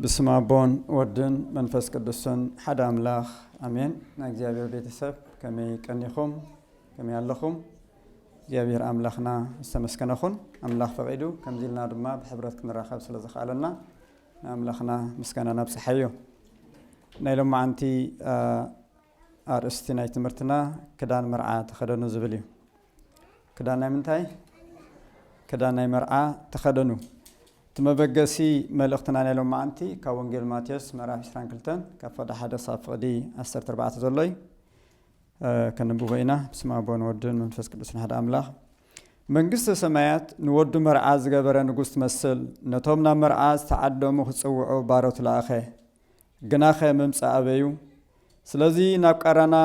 ብስም ኣቦን ወድን መንፈስ ቅዱስን ሓደ ኣምላኽ ኣሜን። ናይ እግዚኣብሔር ቤተሰብ ከመይ ቀኒኹም ከመይ ኣለኹም? እግዚኣብሔር ኣምላኽና ዝተመስገነ ኹን። ኣምላኽ ፈቒዱ ከምዚ ኢልና ድማ ብሕብረት ክንራኸብ ስለ ዘኽኣለና ንኣምላኽና ምስጋና ነብጽሓዮ። ናይ ሎማዓንቲ ኣርእስቲ ናይ ትምህርትና ክዳን መርዓ ተኸደኑ ዝብል እዩ። ክዳን ናይ ምንታይ? ክዳን ናይ መርዓ ተኸደኑ። እቲ መበገሲ መልእኽትና ናይ ሎማዓንቲ ካብ ወንጌል ማቴዎስ ምዕራፍ 22 ካብ ፍቕዲ ሓደ ክሳብ ፍቕዲ 14 ዘሎ እዩ። ከንብቦ ኢና። ብስመ ኣብ ወወልድ ወወልድን መንፈስ ቅዱስን ሓደ ኣምላኽ። መንግስተ ሰማያት ንወዱ መርዓ ዝገበረ ንጉስ ትመስል። ነቶም ናብ መርዓ ዝተዓደሙ ክጽውዑ ባሮት ለኣኸ። ግናኸ ምምጻእ ኣበዩ? ስለዚ ናብ ቃራና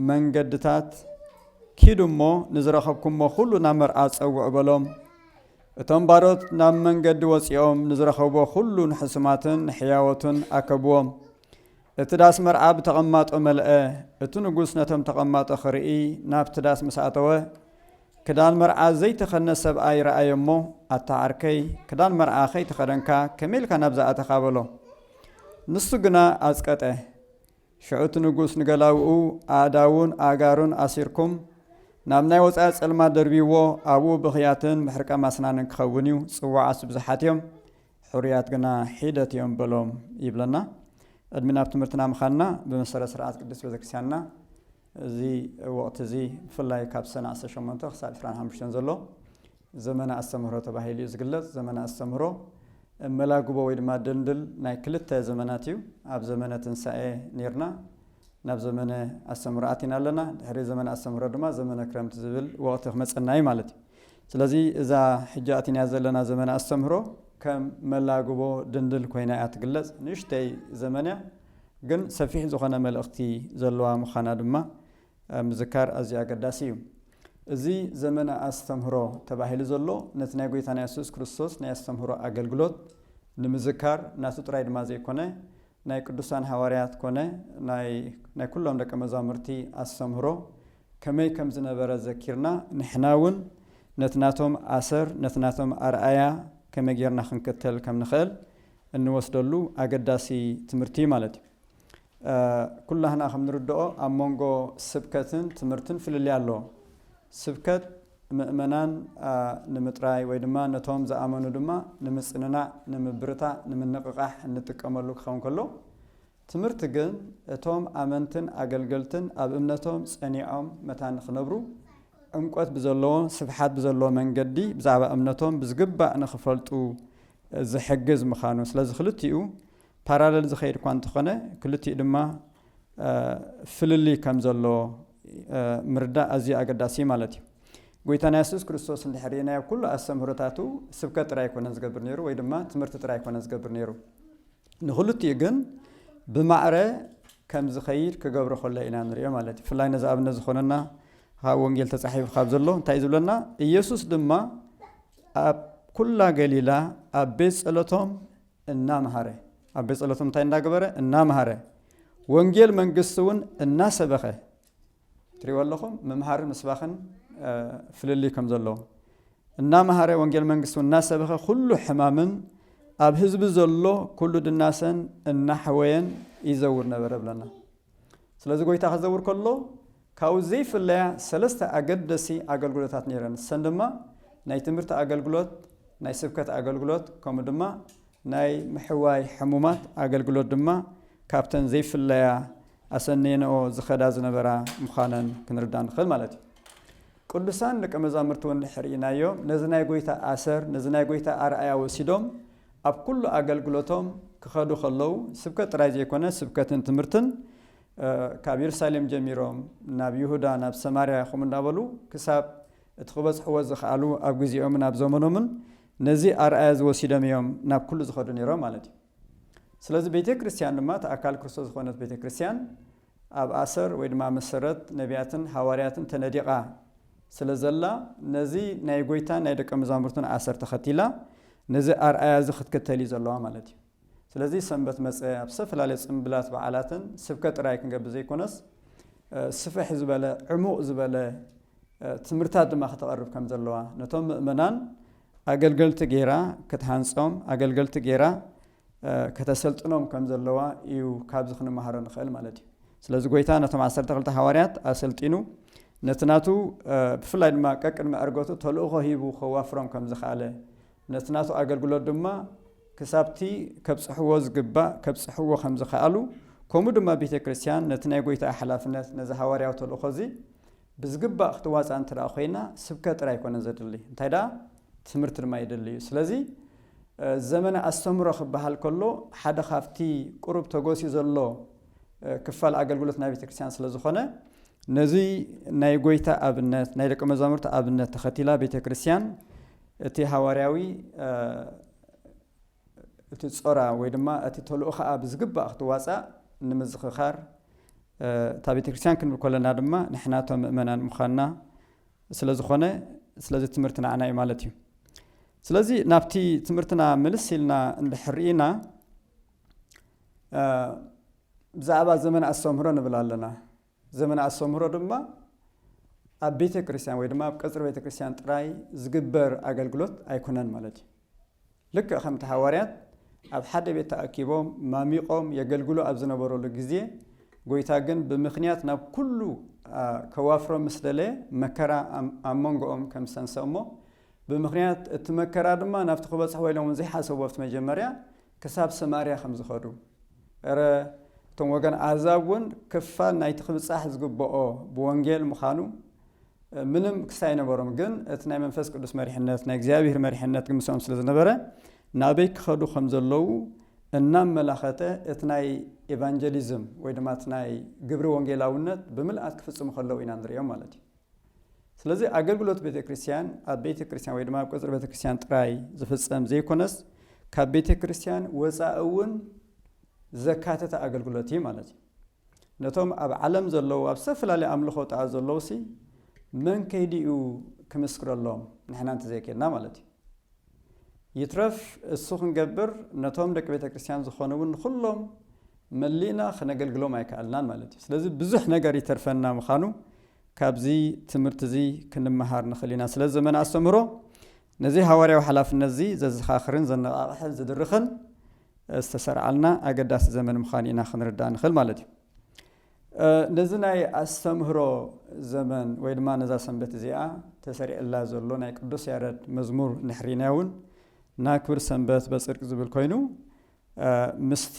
መንገድታት ኪዱ እሞ ንዝረኸብኩሞ ዅሉ ናብ መርዓ ጸውዑ በሎም። እቶም ባሮት ናብ መንገዲ ወጺኦም ንዝረኸብዎ ዅሉ ንሕሱማትን ንሕያዎትን ኣከብዎም። እቲ ዳስ መርዓ ብተቐማጦ መልአ። እቲ ንጉስ ነቶም ተቐማጦ ኽርኢ ናብቲ ዳስ ምስ ኣተወ፣ ክዳን መርዓ ዘይተኸድነ ሰብኣይ ረኣየ እሞ፣ ኣታ ዓርከይ፣ ክዳን መርዓ ከይተኸደንካ ከመይ ኢልካ ናብዚ ኣተኻ? በሎ። ንሱ ግና ኣጽቀጠ። ሽዑ እቲ ንጉስ ንገላዉኡ፣ ኣእዳዉን ኣእጋሩን ኣሲርኩም ናብ ናይ ወጻኢ ጸልማት ደርብይዎ፣ ኣብኡ ብኽያትን ምሕርቃም ኣስናንን ክኸውን እዩ፣ ጽዉዓት ብዙሓት እዮም፣ ሕሩያት ግና ሒደት እዮም በሎም ይብለና። ቅድሚ ናብ ትምህርትና ምኻድና ብመሰረት ስርዓት ቅድስት ቤተክርስቲያንና፣ እዚ ወቕቲ እዚ ብፍላይ ካብ ሰነ ዓሰርተ ሸሞንተ ክሳብ ዕስራን ሓሙሽተን ዘሎ ዘመነ ኣስተምህሮ ተባሂሉ እዩ ዝግለፅ። ዘመነ ኣስተምህሮ መላግቦ ወይ ድማ ድልድል ናይ ክልተ ዘመናት እዩ። ኣብ ዘመነ ትንሳኤ ኔርና ናብ ዘመነ ኣስተምህሮ ኣቲና ኣለና። ድሕሪ ዘመነ ኣስተምህሮ ድማ ዘመነ ክረምቲ ዝብል ወቕቲ ክመፀና እዩ ማለት እዩ። ስለዚ እዛ ሕጂ ኣቲናያ ዘለና ዘመነ ኣስተምህሮ ከም መላግቦ ድልድል ኮይና እያ ትግለፅ። ንእሽተይ ዘመን እያ። ግን ሰፊሕ ዝኾነ መልእኽቲ ዘለዋ ምዃና ድማ ምዝካር ኣዝዩ ኣገዳሲ እዩ። እዚ ዘመነ ኣስተምህሮ ተባሂሉ ዘሎ ነቲ ናይ ጐይታና የሱስ ክርስቶስ ናይ ኣስተምህሮ ኣገልግሎት ንምዝካር ናቱ ጥራይ ድማ ዘይኮነ ናይ ቅዱሳን ሃዋርያት ኮነ ናይ ናይ ኩሎም ደቀ መዛሙርቲ ኣስተምህሮ ከመይ ከም ዝነበረ ዘኪርና ንሕና እውን ነቲ ናቶም ኣሰር ነቲ ናቶም ኣርኣያ ከመይ ጌርና ክንክተል ከም ንኽእል እንወስደሉ ኣገዳሲ ትምህርቲ እዩ ማለት እዩ። ኩላህና ከም ንርድኦ ኣብ መንጎ ስብከትን ትምህርትን ፍልልይ ኣሎ። ስብከት ምእመናን ንምጥራይ ወይ ድማ ነቶም ዝኣመኑ ድማ ንምጽንናዕ፣ ንምብርታዕ፣ ንምንቕቓሕ እንጥቀመሉ ክኸውን ከሎ ትምህርቲ ግን እቶም ኣመንትን ኣገልገልትን ኣብ እምነቶም ጸኒዖም መታን ንኽነብሩ፣ ዕምቈት ብዘለዎ፣ ስፍሓት ብዘለዎ መንገዲ ብዛዕባ እምነቶም ብዝግባእ ንኽፈልጡ ዝሕግዝ ምኻኑ። ስለዚ ክልቲኡ ፓራለል ዝኸይድ እኳ እንተኾነ ክልቲኡ ድማ ፍልልይ ከም ዘለዎ ምርዳእ ኣዝዩ ኣገዳሲ እዩ ማለት እዩ። ጐይታና የሱስ ክርስቶስ እንድሕር ርኢናዮ ኩሉ ኣስተምህሮታቱ ስብከት ጥራይ ኣይኮነን ዝገብር ነይሩ ወይ ድማ ትምህርቲ ጥራይ ኣይኮነን ዝገብር ነይሩ። ንክልቲኡ ግን ብማዕረ ከም ዝኸይድ ክገብሮ ከሎ ኢና ንሪኦ ማለት እዩ። ብፍላይ ነዚ ኣብነት ዝኾነና ካብ ወንጌል ተጻሒፉ ካብ ዘሎ እንታይ እዩ ዝብለና? ኢየሱስ ድማ ኣብ ኩላ ገሊላ ኣብ ቤት ጸሎቶም እናምሃረ ኣብ ቤት ጸሎቶም እንታይ እንዳገበረ እናምሃረ ወንጌል መንግስቲ እውን እናሰበኸ ትሪእዎ ኣለኹም ምምሃርን ምስባኽን ፍልልይ ከም ዘለዎ እናመሃረ ወንጌል መንግስቲ እናሰበኸ ኩሉ ሕማምን ኣብ ህዝቢ ዘሎ ኩሉ ድናሰን እናሕወየን ይዘውር ነበረ ብለና ስለዚ ጎይታ ክዘውር ከሎ ካብኡ ዘይፍለያ ሰለስተ ኣገደሲ ኣገልግሎታት ነይረን እሰን ድማ ናይ ትምህርቲ ኣገልግሎት ናይ ስብከት ኣገልግሎት ከምኡ ድማ ናይ ምሕዋይ ሕሙማት ኣገልግሎት ድማ ካብተን ዘይፍለያ ኣሰንየንኦ ዝኸዳ ዝነበራ ምዃነን ክንርዳእ ንኽእል ማለት እዩ። ቅዱሳን ደቀ መዛሙርቲ እውን እንድሕር ርኢናዮ ነዚ ናይ ጐይታ ኣሰር ነዚ ናይ ጐይታ ኣርኣያ ወሲዶም ኣብ ኩሉ ኣገልግሎቶም ክኸዱ ከለዉ ስብከት ጥራይ ዘይኮነ ስብከትን ትምህርትን ካብ የሩሳሌም ጀሚሮም ናብ ይሁዳ ናብ ሰማርያ ከምኡ እንዳበሉ ክሳብ እቲ ክበጽሕዎ ዝኸኣሉ ኣብ ግዜኦምን ኣብ ዘመኖምን ነዚ ኣርኣያ እዚ ወሲዶም እዮም ናብ ኩሉ ዝኸዱ ነይሮም ማለት እዩ። ስለዚ ቤተ ክርስቲያን ድማ እቲ ኣካል ክርስቶስ ዝኾነት ቤተ ክርስቲያን ኣብ ኣሰር ወይ ድማ መሰረት ነቢያትን ሃዋርያትን ተነዲቓ ስለ ዘላ ነዚ ናይ ጎይታን ናይ ደቀ መዛሙርቱን ኣሰር ተኸቲላ ነዚ ኣርኣያ እዚ ክትከተል እዩ ዘለዋ ማለት እዩ። ስለዚ ሰንበት መጸ ኣብ ዝተፈላለየ ጽምብላት በዓላትን ስብከት ጥራይ ክንገብር ዘይኮነስ ስፍሕ ዝበለ ዕሙቕ ዝበለ ትምህርታት ድማ ከተቐርብ ከም ዘለዋ ነቶም ምእመናን ኣገልገልቲ ገይራ ክትሃንጾም ኣገልገልቲ ገይራ ከተሰልጥኖም ከም ዘለዋ እዩ ካብዚ ክንመሃሮ ንኽእል ማለት እዩ ስለዚ ጎይታ ነቶም ዓሰርተ ክልተ ሃዋርያት ኣሰልጢኑ ነቲ ናቱ ብፍላይ ድማ ቀቅድሚ ዕርገቱ ተልእኾ ሂቡ ከዋፍሮም ከም ዝኸኣለ ነቲ ናቱ ኣገልግሎት ድማ ክሳብቲ ከብጽሕዎ ዝግባእ ከብጽሕዎ ከም ዝኸኣሉ ከምኡ ድማ ቤተ ክርስቲያን ነቲ ናይ ጐይታኣ ሓላፍነት ነዚ ሃዋርያዊ ተልእኮ እዚ ብዝግባእ ክትዋጻእ እንተ ደኣ ኮይና ስብከት ጥራይ ኣይኮነን ዘድሊ እንታይ ደኣ ትምህርቲ ድማ የድሊ እዩ ስለዚ ዘመነ ኣስተምህሮ ክበሃል ከሎ ሓደ ካብቲ ቁሩብ ተጎሲኡ ዘሎ ክፋል ኣገልግሎት ናይ ቤተ ክርስቲያን ስለ ዝኾነ ነዚ ናይ ጐይታ ኣብነት ናይ ደቂ መዛሙርቲ ኣብነት ተኸቲላ ቤተ ክርስቲያን እቲ ሃዋርያዊ እቲ ጾራ ወይ ድማ እቲ ተልእኾኣ ብዝግባእ ክትዋጻእ ንምዝኽኻር እታ ቤተ ክርስቲያን ክንብል ከለና ድማ ንሕና እቶም ምእመናን ምዃንና ስለ ዝኾነ ስለዚ ትምህርቲ ንዓና እዩ ማለት እዩ ስለዚ ናብቲ ትምህርትና ምልስ ኢልና እንድሕር ኢና ብዛዕባ ዘመን ኣስተምህሮ ንብል ኣለና ዘመነ ኣስተምህሮ ድማ ኣብ ቤተ ክርስቲያን ወይ ድማ ኣብ ቀጽሪ ቤተ ክርስቲያን ጥራይ ዝግበር ኣገልግሎት ኣይኮነን ማለት እዩ። ልክዕ ከምቲ ሃዋርያት ኣብ ሓደ ቤት ተኣኪቦም ማሚቆም የገልግሉ ኣብ ዝነበረሉ ግዜ ጎይታ ግን ብምክንያት ናብ ኩሉ ከዋፍሮ ምስ ደለ መከራ ኣብ መንጎኦም ከም ዝሰንሰ እሞ ብምክንያት እቲ መከራ ድማ ናብቲ ክበጽሕዎ ኢሎም ዘይሓሰቡ ኣብቲ መጀመርያ ክሳብ ሰማርያ ከም ዝኸዱ፣ እረ እቶም ወገን ኣህዛብ እውን ክፋል ናይቲ ክብጻሕ ዝግብኦ ብወንጌል ምዃኑ ምንም ክሲ ኣይነበሮም፣ ግን እቲ ናይ መንፈስ ቅዱስ መሪሕነት፣ ናይ እግዚኣብሔር መሪሕነት ግን ምስኦም ስለ ዝነበረ ናበይ ክኸዱ ከም ዘለዉ እናመላኸተ እቲ ናይ ኤቫንጀሊዝም ወይ ድማ እቲ ናይ ግብሪ ወንጌላውነት ብምልኣት ክፍጽሙ ከለዉ ኢና ንርእዮም ማለት እዩ። ስለዚ ኣገልግሎት ቤተ ክርስቲያን ኣብ ቤተ ክርስቲያን ወይ ድማ ኣብ ቅጽሪ ቤተ ክርስቲያን ጥራይ ዝፍጸም ዘይኮነስ ካብ ቤተ ክርስቲያን ወፃኢ እውን ዘካተተ ኣገልግሎት እዩ ማለት እዩ ነቶም ኣብ ዓለም ዘለዉ ኣብ ዝተፈላለዩ ኣምልኾ ጣኣ ዘለዉ ሲ መን ከይዲ እዩ ክምስክረሎም ንሕና እንተዘይከድና ማለት እዩ ይትረፍ እሱ ክንገብር ነቶም ደቂ ቤተ ክርስቲያን ዝኾኑ እውን ንኹሎም መሊእና ክነገልግሎም ኣይከኣልናን ማለት እዩ። ስለዚ ብዙሕ ነገር ይተርፈና ምዃኑ ካብዚ ትምህርቲ እዚ ክንመሃር ንኽእል ኢና። ስለ ዘመነ ኣስተምህሮ ነዚ ሃዋርያዊ ሓላፍነት እዚ ዘዘኻኽርን ዘነቓቕሕን ዝድርኽን ዝተሰርዓልና ኣገዳሲ ዘመን ምዃኑ ኢና ክንርዳእ ንኽእል ማለት እዩ። ነዚ ናይ ኣስተምህሮ ዘመን ወይ ድማ ነዛ ሰንበት እዚኣ ተሰሪዕላ ዘሎ ናይ ቅዱስ ያረድ መዝሙር ንሕሪና እውን ናክብር ሰንበት በፅድቅ ዝብል ኮይኑ ምስቲ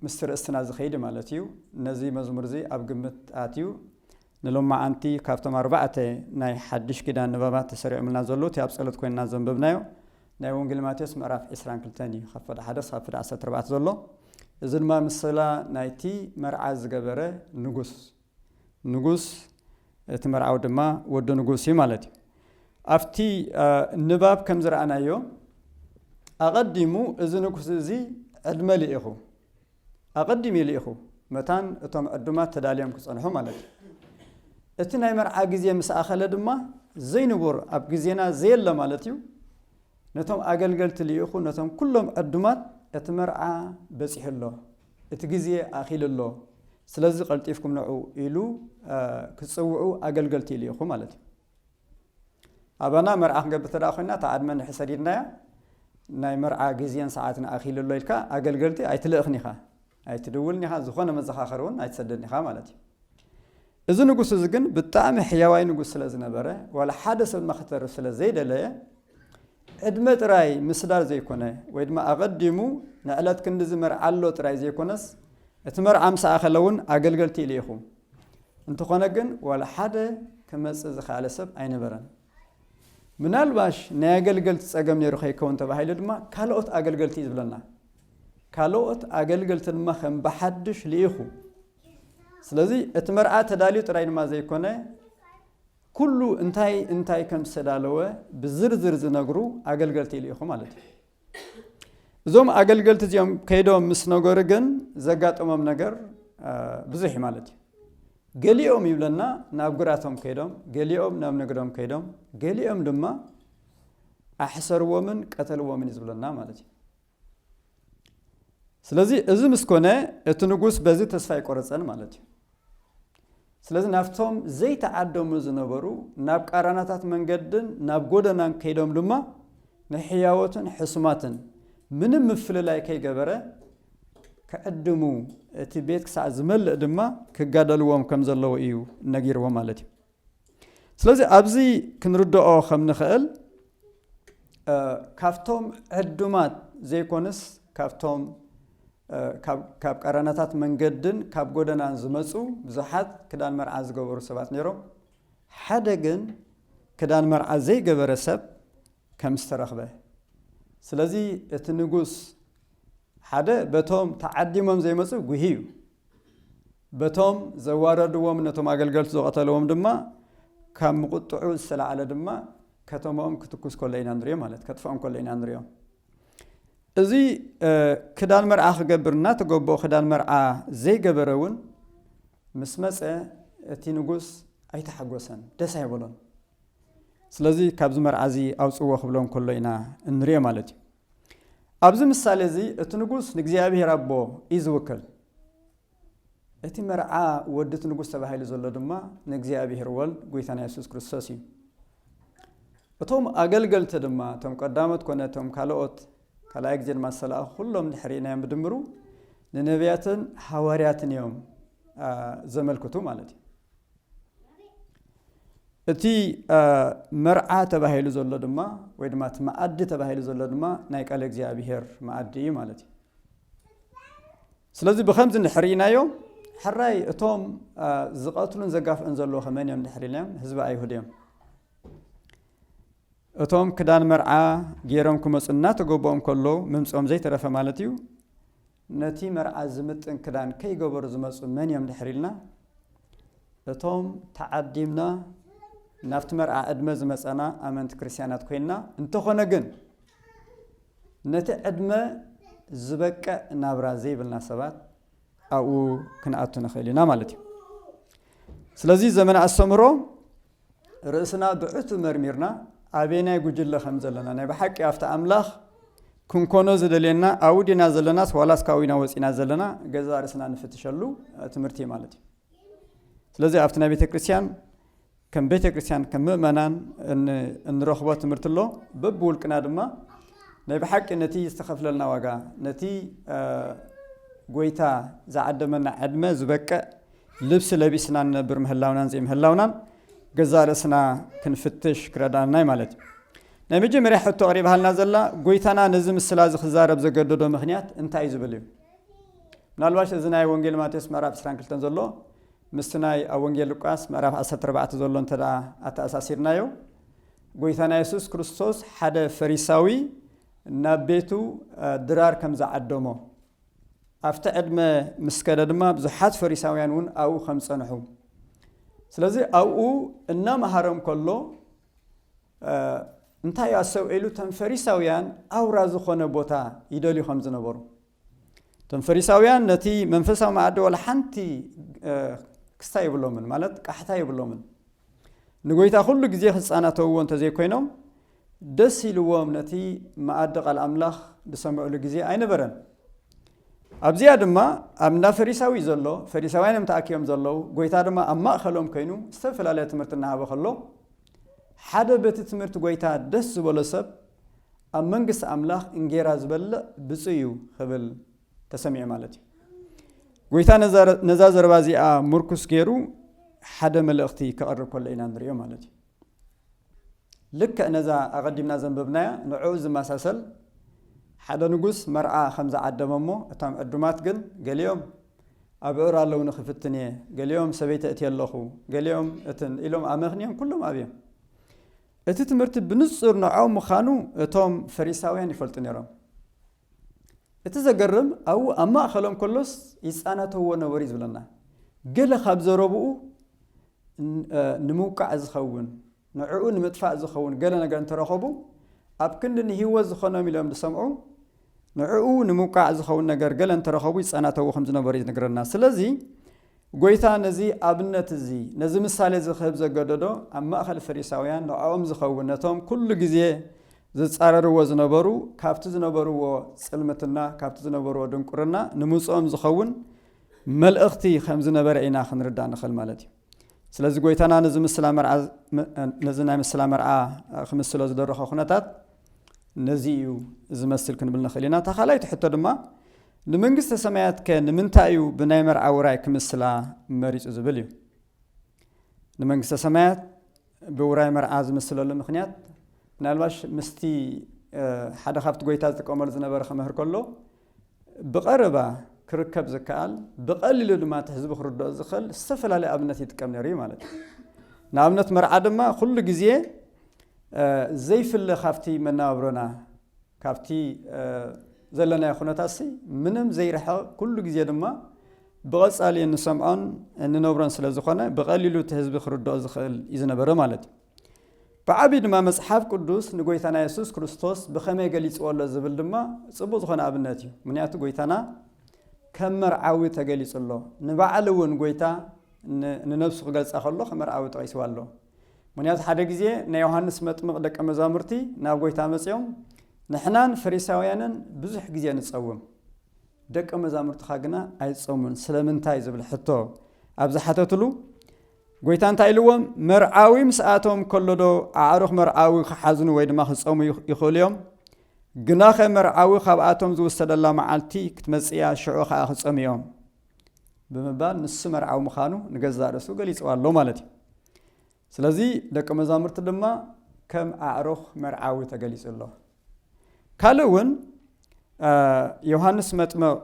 ምስቲ ርእስትና ዝኸይድ ማለት እዩ ነዚ መዝሙር እዚ ኣብ ግምት ኣትዩ ንሎማዓንቲ ካብቶም ኣርባዕተ ናይ ሓድሽ ኪዳን ንባባት ተሰሪዖምልና ዘለዉ እቲ ኣብ ጸሎት ኮይንና ዘንበብናዮ ናይ ወንጌል ማቴዎስ ምዕራፍ ዕስራን ክልተን እዩ ካብ ፍዳ ሓደ ክሳብ ፍዳ ዓሰርተ ኣርባዕተ ዘሎ እዚ ድማ ምስላ ናይቲ መርዓ ዝገበረ ንጉስ ንጉስ እቲ መርዓዊ ድማ ወዲ ንጉስ እዩ ማለት እዩ ኣብቲ ንባብ ከም ዝረኣናዮ ኣቐዲሙ እዚ ንጉስ እዚ ዕድመ ልኢኹ ኣቐዲሙ ይልኢኹ፣ መታን እቶም ዕዱማት ተዳልዮም ክጸንሑ ማለት እዩ። እቲ ናይ መርዓ ግዜ ምስ ኣኸለ ድማ፣ ዘይንቡር፣ ኣብ ግዜና ዘየለ ማለት እዩ፣ ነቶም ኣገልገልቲ ልኢኹ፣ ነቶም ኩሎም ዕዱማት፣ እቲ መርዓ በጺሑ ኣሎ፣ እቲ ግዜ ኣኺሉ ኣሎ፣ ስለዚ ቀልጢፍኩም ንዑ ኢሉ ክጽውዑ ኣገልገልቲ ይልኢኹ ማለት እዩ። ኣባና መርዓ ክንገብር እንተ ኮይና እታ ዕድመ እንድሕር ሰዲድናያ ናይ መርዓ ግዜን ሰዓትን ኣኺሉ ኣሎ ኢልካ ኣገልገልቲ ኣይትልእኽን ኢኻ፣ ኣይትድውልን ኢኻ፣ ዝኾነ መዘኻኸሪ እውን ኣይትሰደን ኢኻ ማለት እዩ። እዚ ንጉስ እዚ ግን ብጣዕሚ ሕያዋይ ንጉስ ስለ ዝነበረ ዋላ ሓደ ሰብ ድማ ክተርፍ ስለ ዘይደለየ ዕድመ ጥራይ ምስዳር ዘይኮነ፣ ወይ ድማ ኣቐዲሙ ንዕለት ክንድዚ መርዓ ኣሎ ጥራይ ዘይኮነስ፣ እቲ መርዓ ምስ ኣኸለ እውን ኣገልገልቲ ልኢኹ። እንተኾነ ግን ዋላ ሓደ ክመጽእ ዝኸኣለ ሰብ ኣይነበረን። ምናልባሽ ናይ ኣገልገልቲ ጸገም ነይሩ ከይከውን ተባሂሉ ድማ ካልኦት ኣገልገልቲ እዩ ዝብለና። ካልኦት ኣገልገልቲ ድማ ከም ብሓድሽ ልኢኹ። ስለዚ እቲ መርዓ ተዳልዩ ጥራይ ድማ ዘይኮነ፣ ኩሉ እንታይ እንታይ ከም ዝተዳለወ ብዝርዝር ዝነግሩ ኣገልገልቲ ይልኢኹ ማለት እዩ። እዞም ኣገልገልቲ እዚኦም ከይዶም ምስ ነገሩ ግን ዘጋጠሞም ነገር ብዙሕ እዩ ማለት እዩ። ገሊኦም ይብለና ናብ ግራቶም ከይዶም፣ ገሊኦም ናብ ንግዶም ከይዶም፣ ገሊኦም ድማ ኣሕሰርዎምን ቀተልዎምን እዩ ዝብለና ማለት እዩ። ስለዚ እዚ ምስ ኮነ እቲ ንጉስ በዚ ተስፋ ኣይቆረፀን ማለት እዩ ስለዚ ናብቶም ዘይተዓደሙ ዝነበሩ ናብ ቃራናታት መንገድን ናብ ጎደናን ከይዶም ድማ ንሕያወትን ሕሱማትን ምንም ምፍልላይ ከይገበረ ክዕድሙ እቲ ቤት ክሳዕ ዝመልእ ድማ ክጋደልዎም ከም ዘለዎ እዩ ነጊርዎ ማለት እዩ ስለዚ ኣብዚ ክንርድኦ ከም ንኽእል ካብቶም ዕዱማት ዘይኮንስ ካብቶም ካብ ቀረናታት መንገድን ካብ ጎደናን ዝመፁ ብዙሓት ክዳን መርዓ ዝገበሩ ሰባት ነይሮም። ሓደ ግን ክዳን መርዓ ዘይገበረ ሰብ ከም ዝተረኽበ ስለዚ እቲ ንጉስ ሓደ በቶም ተዓዲሞም ዘይመፁ ጉሂ እዩ በቶም ዘዋረድዎም ነቶም ኣገልገልቱ ዝቐተልዎም ድማ ካብ ምቁጥዑ ዝተላዕለ ድማ ከተምኦም ክትኩስ ኮሎ ኢና ንሪኦ ማለት ከጥፍኦም ኮሎ ኢና ንሪኦ እዚ ክዳን መርዓ ክገብር እናተገበኦ ክዳን መርዓ ዘይገበረ እውን ምስ መፀ እቲ ንጉስ ኣይተሓጎሰን ደስ ኣይበሎን ስለዚ ካብዚ መርዓ እዚ ኣውፅዎ ክብሎ ከሎ ኢና እንሪኦ ማለት እዩ ኣብዚ ምሳሌ እዚ እቲ ንጉስ ንእግዚኣብሄር ኣቦ እዩ ዝውክል እቲ መርዓ ወዲ እቲ ንጉስ ተባሂሉ ዘሎ ድማ ንእግዚኣብሔር ወልድ ጎይታና የሱስ ክርስቶስ እዩ። እቶም ኣገልገልቲ ድማ እቶም ቀዳሞት ኮነ እቶም ካልኦት ካልኣይ ግዜ ድማ ዝተላእኹ ኩሎም ድሕሪ ናዮም ብድምሩ ንነቢያትን ሃዋርያትን እዮም ዘመልክቱ ማለት እዩ። እቲ መርዓ ተባሂሉ ዘሎ ድማ ወይ ድማ እቲ መኣዲ ተባሂሉ ዘሎ ድማ ናይ ቃል እግዚኣብሄር መኣዲ እዩ ማለት እዩ። ስለዚ ብኸምዚ እንድሕሪኢናዮ ሕራይ እቶም ዝቐትሉን ዘጋፍዑን ዘለዉኸ መን እዮም እንድሕሪ ኢልናዮም ህዝቢ ኣይሁድ እዮም እቶም ክዳን መርዓ ገይሮም ክመፁ እናተገበኦም ከሎ ምምፅኦም ዘይተረፈ ማለት እዩ ነቲ መርዓ ዝምጥን ክዳን ከይገበሩ ዝመፁ መን እዮም እንድሕሪ ኢልና እቶም ተዓዲምና ናብቲ መርዓ ዕድመ ዝመፀና ኣመንቲ ክርስትያናት ኮይንና እንተኾነ ግን ነቲ ዕድመ ዝበቅዕ ናብራ ዘይብልና ሰባት ኣብኡ ክንኣቱ ንኽእል ኢና ማለት እዩ። ስለዚ ዘመነ ኣስተምህሮ ርእስና ብዕቱ መርሚርና ኣበየናይ ጉጅለ ከም ዘለና ናይ ብሓቂ ኣብቲ ኣምላኽ ክንኮኖ ዝደልየና ኣብኡ ዲና ዘለናስ ዋላስ ካውኢና ወፂና ዘለና ገዛ ርእስና ንፍትሸሉ ትምህርቲ እዩ ማለት እዩ። ስለዚ ኣብቲ ናይ ቤተ ክርስቲያን ከም ቤተ ክርስቲያን ከም ምእመናን እንረኽቦ ትምህርቲ ኣሎ በብውልቅና ድማ ናይ ብሓቂ ነቲ ዝተኸፍለልና ዋጋ ነቲ ጎይታ ዝዓደመና ዕድመ ዝበቅዕ ልብሲ ለቢስና ንነብር ምህላውናን ዘይምህላውናን ገዛ ርእስና ክንፍትሽ ክረዳናይ ማለት እዩ ናይ መጀመርያ ሕቶ ኣቕሪብሃልና ዘላ ጎይታና ነዚ ምስላ እዚ ክዛረብ ዘገደዶ ምክንያት እንታይ እዩ ዝብል እዩ ምናልባሽ እዚ ናይ ወንጌል ማቴዎስ ምዕራፍ ዕስራን ክልተን ዘሎ ምስቲ ናይ ኣብ ወንጌል ሉቃስ ምዕራፍ ዓሰርተ ኣርባዕተ ዘሎ እንተ ደኣ ኣተኣሳሲርናዮ ጎይታና የሱስ ክርስቶስ ሓደ ፈሪሳዊ ናብ ቤቱ ድራር ከም ዝዓደሞ ኣብቲ ዕድመ ምስ ከደ ድማ ብዙሓት ፈሪሳውያን እውን ኣብኡ ከም ዝጸንሑ ስለዚ ኣብኡ እናመሃሮም ከሎ እንታይ ኣሰውዒሉ እቶም ፈሪሳውያን ኣውራ ዝኾነ ቦታ ይደልዩ ከም ዝነበሩ እቶም ፈሪሳውያን ነቲ መንፈሳዊ መኣዲ ዋላ ሓንቲ ክስታ ይብሎምን ማለት ቃሕታ ይብሎምን ንጎይታ ኩሉ ግዜ ክጻናተውዎ እንተዘይኮይኖም ደስ ኢልዎም ነቲ መኣዲ ቃል ኣምላኽ ዝሰምዕሉ ግዜ ኣይነበረን ኣብዚኣ ድማ ኣብ እንዳ ፈሪሳዊ ዘሎ ፈሪሳውያን እዮም ተኣኪቦም ዘለዉ ጎይታ ድማ ኣብ ማእኸሎም ኮይኑ ዝተፈላለየ ትምህርቲ እናሃበ ከሎ ሓደ በቲ ትምህርቲ ጎይታ ደስ ዝበሎ ሰብ ኣብ መንግስቲ ኣምላኽ እንጌራ ዝበልዕ ብፁእ እዩ ኽብል ተሰሚዑ ማለት እዩ። ጐይታ ነዛ ዘረባ እዚኣ ምርኩስ ገይሩ ሓደ መልእኽቲ ከቕርብ ከሎ ኢና ንሪኦ ማለት እዩ። ልክዕ ነዛ ኣቐዲምና ዘንበብናያ ንዕኡ ዝመሳሰል ሓደ ንጉስ መርዓ ከም ዝዓደመ እሞ እቶም ዕዱማት ግን ገሊኦም ኣብዑር ኣለውኒ ክፍትን እየ ገሊኦም ሰበይቲ እቲ ኣለኹ ገሊኦም እትን ኢሎም ኣመኽንዮም ኩሎም ኣብዮም እቲ ትምህርቲ ብንጹር ንዖም ምኻኑ እቶም ፈሪሳውያን ይፈልጡ ነሮም። እቲ ዘገርም ኣብኡ ኣብ ማእከሎም ከሎስ ይጻነተዎ ነበሩ እዩ ዝብለና። ገለ ካብ ዘረብኡ ንምውቃዕ ዝኸውን ንዕኡ ንምጥፋእ ዝኸውን ገለ ነገር እንተረኸቡ ኣብ ክንዲ ንህይወት ዝኾኖም ኢሎም ዝሰምዑ ንዕኡ ንምውቃዕ ዝኸውን ነገር ገለ እንተረኸቡ ይጻናተዎ ከም ዝነበሩ እዩ ዝነግረና። ስለዚ ጐይታ ነዚ ኣብነት እዚ፣ ነዚ ምሳሌ እዚ ኺህብ ዘገደዶ፣ ኣብ ማእከል ፈሪሳውያን ንዕኦም ዚኸውን ነቶም ኵሉ ጊዜ ዚጻረርዎ ዝነበሩ፣ ካብቲ ዝነበርዎ ጽልምትና፣ ካብቲ ዝነበርዎ ድንቍርና ንምጽኦም ዚኸውን መልእኽቲ ኸም ዝነበረ ኢና ኽንርዳእ ንኽእል ማለት እዩ። ስለዚ ጐይታና ነዚ ምስላ መርዓ ነዚ ናይ ምስላ መርዓ ኺምስሎ ዝደረኾ ዅነታት ነዚ እዩ ዚመስል ክንብል ንኽእል ኢና። እታ ኻልኣይቲ ሕቶ ድማ ንመንግስተ ሰማያትከ ንምንታይ እዩ ብናይ መርዓ ውራይ ክምስላ መሪጹ ዝብል እዩ። ንመንግስተ ሰማያት ብውራይ መርዓ ዝምስለሉ ምክንያት ምናልባሽ ምስቲ ሓደ ካብቲ ጎይታ ዝጥቀመሉ ዝነበረ ክምህር ከሎ ብቐረባ ክርከብ ዝከኣል ብቐሊሉ ድማ እቲ ህዝቢ ክርድኦ ዝኽእል ዝተፈላለየ ኣብነት ይጥቀም ነይሩ እዩ ማለት እዩ ንኣብነት መርዓ ድማ ኩሉ ግዜ ዘይፍለ ካብቲ መነባብሮና ካብቲ ዘለናዮ ኩነታትሲ ምንም ዘይርሕቕ ኩሉ ግዜ ድማ ብቐጻሊ እንሰምዖን እንነብሮን ስለ ዝኾነ ብቐሊሉ እቲ ህዝቢ ክርድኦ ዝኽእል እዩ ዝነበረ ማለት እዩ። ብዓብዪ ድማ መጽሓፍ ቅዱስ ንጎይታና የሱስ ክርስቶስ ብኸመይ ገሊጽዎ ኣሎ ዝብል ድማ ጽቡቕ ዝኾነ ኣብነት እዩ። ምክንያቱ ጎይታና ከም መርዓዊ ተገሊጹ ኣሎ። ንባዕሉ እውን ጎይታ ንነብሱ ክገልጻ ከሎ ከም መርዓዊ ጠቒስዋ ኣሎ። ምክንያቱ ሓደ ግዜ ናይ ዮሃንስ መጥምቕ ደቀ መዛሙርቲ ናብ ጎይታ መጺኦም ንሕናን ፈሪሳውያንን ብዙሕ ግዜ ንጸውም ደቀ መዛሙርትኻ ግና ኣይጸሙን ስለምንታይ ዝብል ሕቶ ኣብ ዝሓተትሉ ጎይታ እንታይ ኢልዎም መርዓዊ ምስ ኣቶም ከሎ ዶ ኣዕሩኽ መርዓዊ ክሓዝኑ ወይ ድማ ክጸሙ ይኽእሉ እዮም ግናኸ መርዓዊ ካብኣቶም ዝውሰደላ መዓልቲ ክትመጽእያ ሽዑ ከዓ ክጸሙ እዮም ብምባል ንሱ መርዓዊ ምዃኑ ንገዛእ ርእሱ ገሊጽዋ ኣሎ ማለት እዩ። ስለዚ ደቂ መዛሙርቲ ድማ ከም ኣዕሩኽ መርዓዊ ተገሊጹ ኣሎ። ካልእ እውን ዮሃንስ መጥምቕ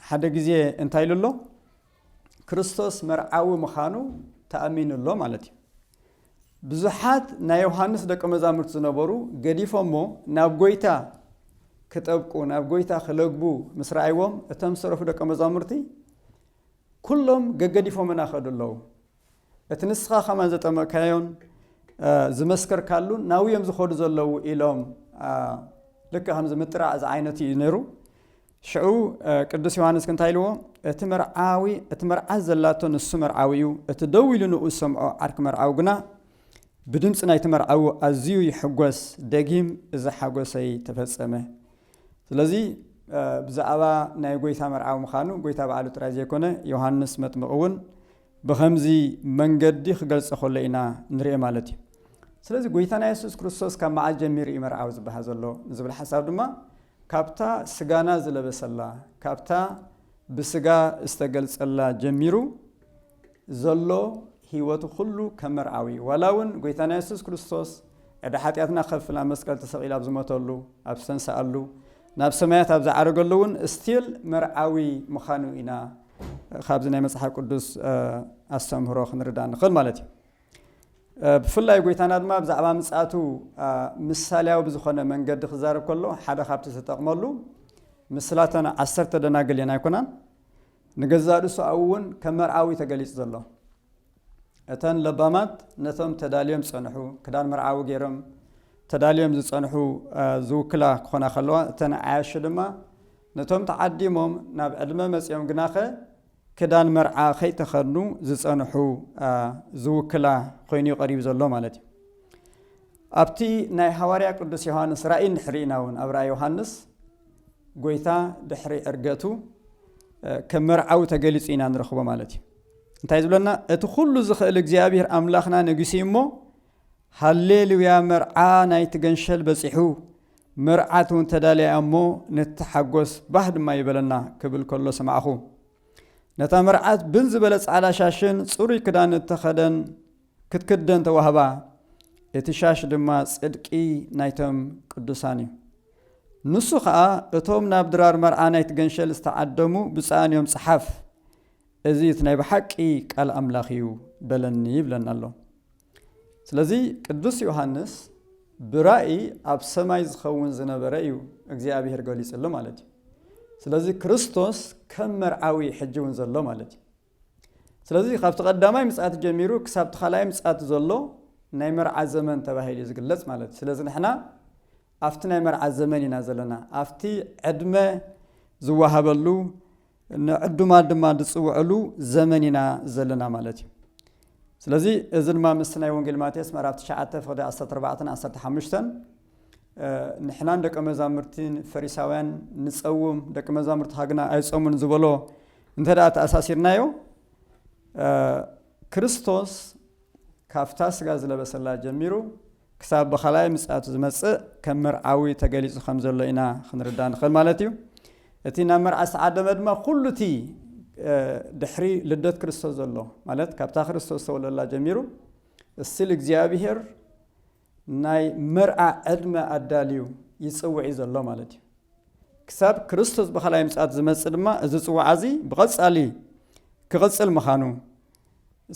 ሓደ ግዜ እንታይ ኢሉ ኣሎ? ክርስቶስ መርዓዊ ምዃኑ ተኣሚኑ ኣሎ ማለት እዩ። ብዙሓት ናይ ዮሃንስ ደቀ መዛሙርት ዝነበሩ ገዲፎሞ ናብ ጐይታ ክጠብቁ ናብ ጐይታ ክለግቡ ምስ ረኣይዎም እቶም ዝተረፉ ደቀ መዛሙርቲ ኩሎም ገገዲፎምና ከዱ ኣለዉ እቲ ንስኻ ከማን ዘጠመቅካዮን ዝመስከርካሉን ናብዮም ዝኸዱ ዘለዉ ኢሎም ልክ ከምዚ ምጥራዕ ዝዓይነቱ እዩ ነይሩ ሽዑ ቅዱስ ዮሃንስ እንታይ ኢልዎ እቲ መርዓዊ እቲ መርዓ ዘላቶ ንሱ መርዓዊ እዩ እቲ ደው ኢሉ ንኡ ዝሰምዖ ዓርኪ መርዓዊ ግና ብድምፂ ናይቲ መርዓዊ ኣዝዩ ይሕጎስ ደጊም እዚ ሓጎሰይ ተፈጸመ ስለዚ ብዛዕባ ናይ ጎይታ መርዓዊ ምዃኑ ጎይታ በዓሉ ጥራይ ዘይኮነ ዮሃንስ መጥምቕ እውን ብኸምዚ መንገዲ ክገልጸ ከሎ ኢና ንርኤ ማለት እዩ። ስለዚ ጎይታና የሱስ ክርስቶስ ካብ መዓስ ጀሚሩ እዩ መርዓዊ ዝበሃል ዘሎ ንዝብል ሓሳብ ድማ ካብታ ስጋና ዝለበሰላ ካብታ ብስጋ ዝተገልጸላ ጀሚሩ ዘሎ ህይወቱ ኩሉ ከም መርዓዊ እዩ። ዋላ እውን ጎይታና የሱስ ክርስቶስ ዕዳ ሓጢኣትና ከፍል ኣብ መስቀል ተሰቒሉ ኣብ ዝሞተሉ ኣብ ዝተንስኣሉ ናብ ሰማያት ኣብ ዝዓረገሉ እውን ስቲል መርዓዊ ምዃኑ ኢና ካብዚ ናይ መጽሓፍ ቅዱስ ኣስተምህሮ ክንርዳ ንኽእል ማለት እዩ ብፍላይ ጎይታና ድማ ብዛዕባ ምፅኣቱ ምሳሌያዊ ብዝኾነ መንገዲ ክዛረብ ከሎ ሓደ ካብቲ ዝተጠቕመሉ ምስላተን ዓሰርተ ደናግል እየን ኣይኮናን ንገዛእ ርእሱ ኣብኡ እውን ከም መርዓዊ ተገሊጹ ዘሎ እተን ለባማት ነቶም ተዳልዮም ዝጸንሑ፣ ክዳን መርዓዊ ገይሮም ተዳልዮም ዝጸንሑ ዝውክላ ክኾና ከለዋ፣ እተን ዓያሹ ድማ ነቶም ተዓዲሞም ናብ ዕድመ መጺኦም ግናኸ ክዳን መርዓ ከይተኸድኑ ዝጸንሑ ዝውክላ ኮይኑ እዩ ቀሪቡ ዘሎ ማለት እዩ። ኣብቲ ናይ ሃዋርያ ቅዱስ ዮሃንስ ራእይ እንድሕሪ ኢና እውን ኣብ ራእይ ዮሃንስ ጎይታ ድሕሪ ዕርገቱ ከም መርዓዊ ተገሊጹ ኢና ንረኽቦ ማለት እዩ። እንታይ ዝብለና እቲ ኩሉ ዝኽእል እግዚኣብሔር ኣምላኽና ነጊሱ እዩ እሞ ሃሌሉያ መርዓ ናይቲ ገንሸል በጺሑ መርዓት እውን ተዳልያ እሞ ንተሓጎስ ባህ ድማ ይበለና ክብል ከሎ ሰማዕኹ ነታ መርዓት ብን ዝበለ ጻዕዳ ሻሽን ጽሩይ ክዳን እተኸደን ክትክደን ተዋህባ እቲ ሻሽ ድማ ጽድቂ ናይቶም ቅዱሳን እዩ ንሱ ኸኣ እቶም ናብ ድራር መርዓ ናይቲ ገንሸል ዝተዓደሙ ብፅኣን እዮም ጸሓፍ እዚ እቲ ናይ ብሓቂ ቃል ኣምላኽ እዩ በለኒ ይብለና ኣሎ። ስለዚ ቅዱስ ዮሃንስ ብራእይ ኣብ ሰማይ ዝኸውን ዝነበረ እዩ እግዚኣብሔር ገሊጽሉ ማለት እዩ። ስለዚ ክርስቶስ ከም መርዓዊ ሕጂ እውን ዘሎ ማለት እዩ። ስለዚ ካብቲ ቀዳማይ ምጽኣት ጀሚሩ ክሳብቲ ካልኣይ ምጽኣት ዘሎ ናይ መርዓ ዘመን ተባሂሉ እዩ ዝግለጽ ማለት እዩ። ስለዚ ንሕና ኣብቲ ናይ መርዓ ዘመን ኢና ዘለና፣ ኣብቲ ዕድመ ዝወሃበሉ ንዕዱማት ድማ ዝጽውዕሉ ዘመን ኢና ዘለና ማለት እዩ። ስለዚ እዚ ድማ ምስቲ ናይ ወንጌል ማቴዎስ ምዕራፍ ትሽዓተ ፍቕዲ ዓሰርተ ኣርባዕተን ዓሰርተ ሓሙሽተን ንሕናን ደቀ መዛሙርትን ፈሪሳውያን ንጸውም ደቂ መዛሙርትኻ ግና ኣይጸሙን ዝበሎ እንተ ደኣ ተኣሳሲርናዮ ክርስቶስ ካብታ ስጋ ዝለበሰላ ጀሚሩ ክሳብ ብኻልኣይ ምጽኣቱ ዝመጽእ ከም መርዓዊ ተገሊጹ ከም ዘሎ ኢና ክንርዳእ ንኽእል ማለት እዩ። እቲ ናብ መርዓ ዝተዓደመ ድማ ኩሉ እቲ ድሕሪ ልደት ክርስቶስ ዘሎ ማለት ካብታ ክርስቶስ ዝተወለደላ ጀሚሩ እስል እግዚኣብሄር ናይ መርዓ ዕድመ ኣዳልዩ ይጽውዕ እዩ ዘሎ ማለት እዩ። ክሳብ ክርስቶስ ብኻልኣይ ምጽኣት ዝመጽእ ድማ እዚ ጽዋዓ እዚ ብቐጻሊ ክቕጽል ምዃኑ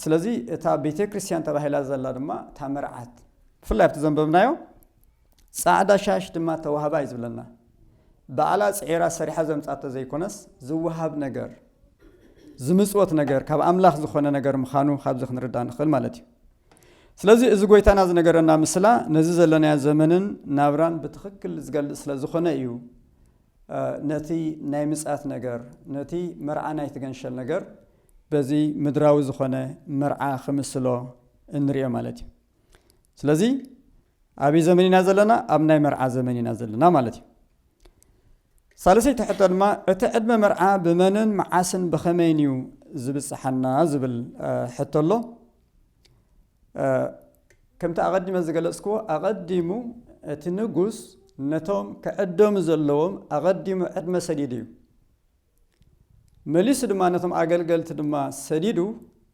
ስለዚ እታ ቤተ ክርስቲያን ተባሂላ ዘላ ድማ እታ መርዓት ብፍላይ ኣብቲ ዘንበብናዮ ጻዕዳ ሻሽ ድማ ተዋህባ እዩ ዝብለና በዓላ ጽዒራ ሰሪሓ ዘምጻቶ ዘይኮነስ ዝወሃብ ነገር ዝምጽወት ነገር ካብ ኣምላኽ ዝኾነ ነገር ምዃኑ ካብዚ ክንርዳእ ንኽእል ማለት እዩ ስለዚ እዚ ጎይታና ዝነገረና ምስላ ነዚ ዘለናዮ ዘመንን ናብራን ብትኽክል ዝገልፅ ስለ ዝኾነ እዩ ነቲ ናይ ምፅኣት ነገር ነቲ መርዓ ናይቲ ገንሸል ነገር በዚ ምድራዊ ዝኾነ መርዓ ክምስሎ እንሪኦ ማለት እዩ ስለዚ ኣብይ ዘመን ኢና ዘለና ኣብ ናይ መርዓ ዘመን ኢና ዘለና ማለት እዩ ሳልሰይቲ ሕቶ ድማ እቲ ዕድመ መርዓ ብመንን መዓስን ብኸመይን እዩ ዝብፅሓና ዝብል ሕቶ ኣሎ ከምቲ ኣቐዲመ ዝገለፅክዎ ኣቐዲሙ እቲ ንጉስ ነቶም ክዕደሙ ዘለዎም ኣቐዲሙ ዕድመ ሰዲድ እዩ መሊሱ ድማ ነቶም ኣገልገልቲ ድማ ሰዲዱ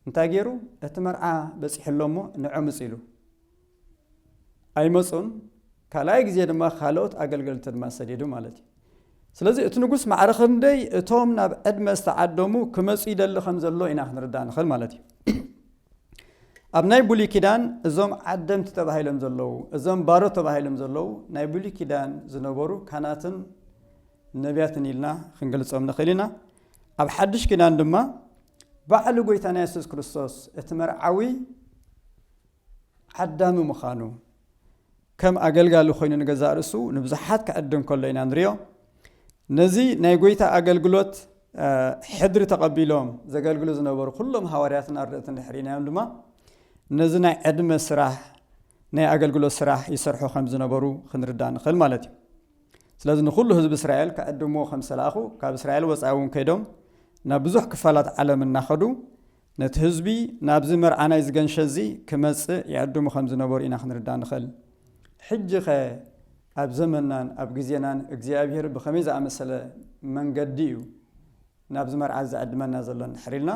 እንታይ ገይሩ እቲ መርዓ በጺሑ ኣሎ እሞ ንዕምጽ ኢሉ ኣይመጹን ካልኣይ ግዜ ድማ ካልኦት ኣገልገልቲ ድማ ሰዲዱ ማለት እዩ ስለዚ እቲ ንጉስ ማዕረ ክንደይ እቶም ናብ ዕድመ ዝተዓደሙ ክመፁ ይደሊ ከም ዘሎ ኢና ክንርዳእ ንኽእል ማለት እዩ ኣብ ናይ ብሉይ ኪዳን እዞም ዓደምቲ ተባሂሎም ዘለዉ እዞም ባሮ ተባሂሎም ዘለዉ ናይ ብሉይ ኪዳን ዝነበሩ ካናትን ነብያትን ኢልና ክንገልጾም ንኽእል ኢና። ኣብ ሓድሽ ኪዳን ድማ ባዕሉ ጎይታና የሱስ ክርስቶስ እቲ መርዓዊ ዓዳሚ ምዃኑ ከም ኣገልጋሊ ኮይኑ ንገዛእ ርእሱ ንብዙሓት ክዕድም ከሎ ኢና ንሪኦ። ነዚ ናይ ጎይታ ኣገልግሎት ሕድሪ ተቐቢሎም ዘገልግሉ ዝነበሩ ኩሎም ሃዋርያትን ኣርድእትን ድሕሪናዮም ድማ ነዚ ናይ ዕድመ ስራሕ ናይ ኣገልግሎት ስራሕ ይሰርሑ ከም ዝነበሩ ክንርዳእ ንኽእል ማለት እዩ። ስለዚ ንዅሉ ህዝቢ እስራኤል ክዕድምዎ ከም ዝተላእኩ፣ ካብ እስራኤል ወጻኢ እውን ከይዶም ናብ ብዙሕ ክፋላት ዓለም እናኸዱ ነቲ ህዝቢ ናብዚ መርዓ ናይዚ ገንሸል እዚ ክመጽእ ይዕድሙ ከም ዝነበሩ ኢና ክንርዳእ እንኽእል። ሕጂኸ ኣብ ዘመንናን ኣብ ግዜናን እግዚኣብሄር ብኸመይ ዝኣመሰለ መንገዲ እዩ ናብዚ መርዓ እዚ ዝዕድመና ዘሎ እንድሕር ኢልና፣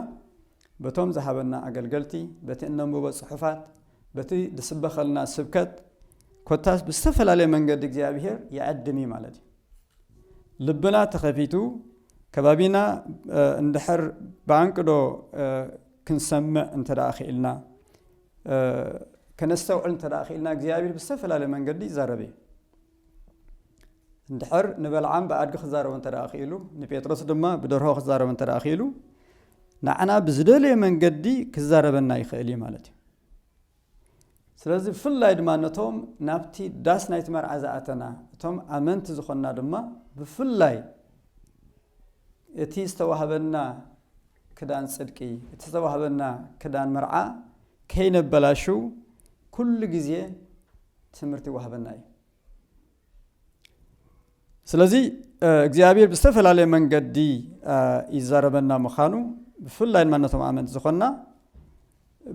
በቶም ዝሃበና ኣገልገልቲ፣ በቲ እነንብቦ ጽሑፋት፣ በቲ ዝስበኸልና ስብከት፣ ኮታስ ብዝተፈላለየ መንገዲ እግዚኣብሄር ይዕድም እዩ ማለት እዩ። ልብና ተኸፊቱ ከባቢና እንድሕር ብኣንቅዶ ክንሰምዕ እንተ ደኣ ክኢልና ከነስተውዕል እንተ ደኣ ክኢልና እግዚኣብሄር ብዝተፈላለየ መንገዲ ይዛረብ እዩ። እንድሕር ንበልዓም ብኣድጊ ክዛረቦ እንተ ክኢሉ ንጴጥሮስ ድማ ብደርሆ ክዛረቦ እንተ ክኢሉ ንዓና ብዝደለየ መንገዲ ክዛረበና ይኽእል እዩ ማለት እዩ ስለዚ ብፍላይ ድማ ነቶም ናብቲ ዳስ ናይቲ መርዓ ዝኣተና እቶም ኣመንቲ ዝኾንና ድማ ብፍላይ እቲ ዝተዋህበና ክዳን ፅድቂ እቲ ዝተዋህበና ክዳን መርዓ ከይነበላሽው ኩሉ ግዜ ትምህርቲ ይዋህበና እዩ ስለዚ እግዚኣብሔር ብዝተፈላለየ መንገዲ ይዛረበና ምዃኑ ብፍላይ ድማ ነቶም ኣመንቲ ዝኾንና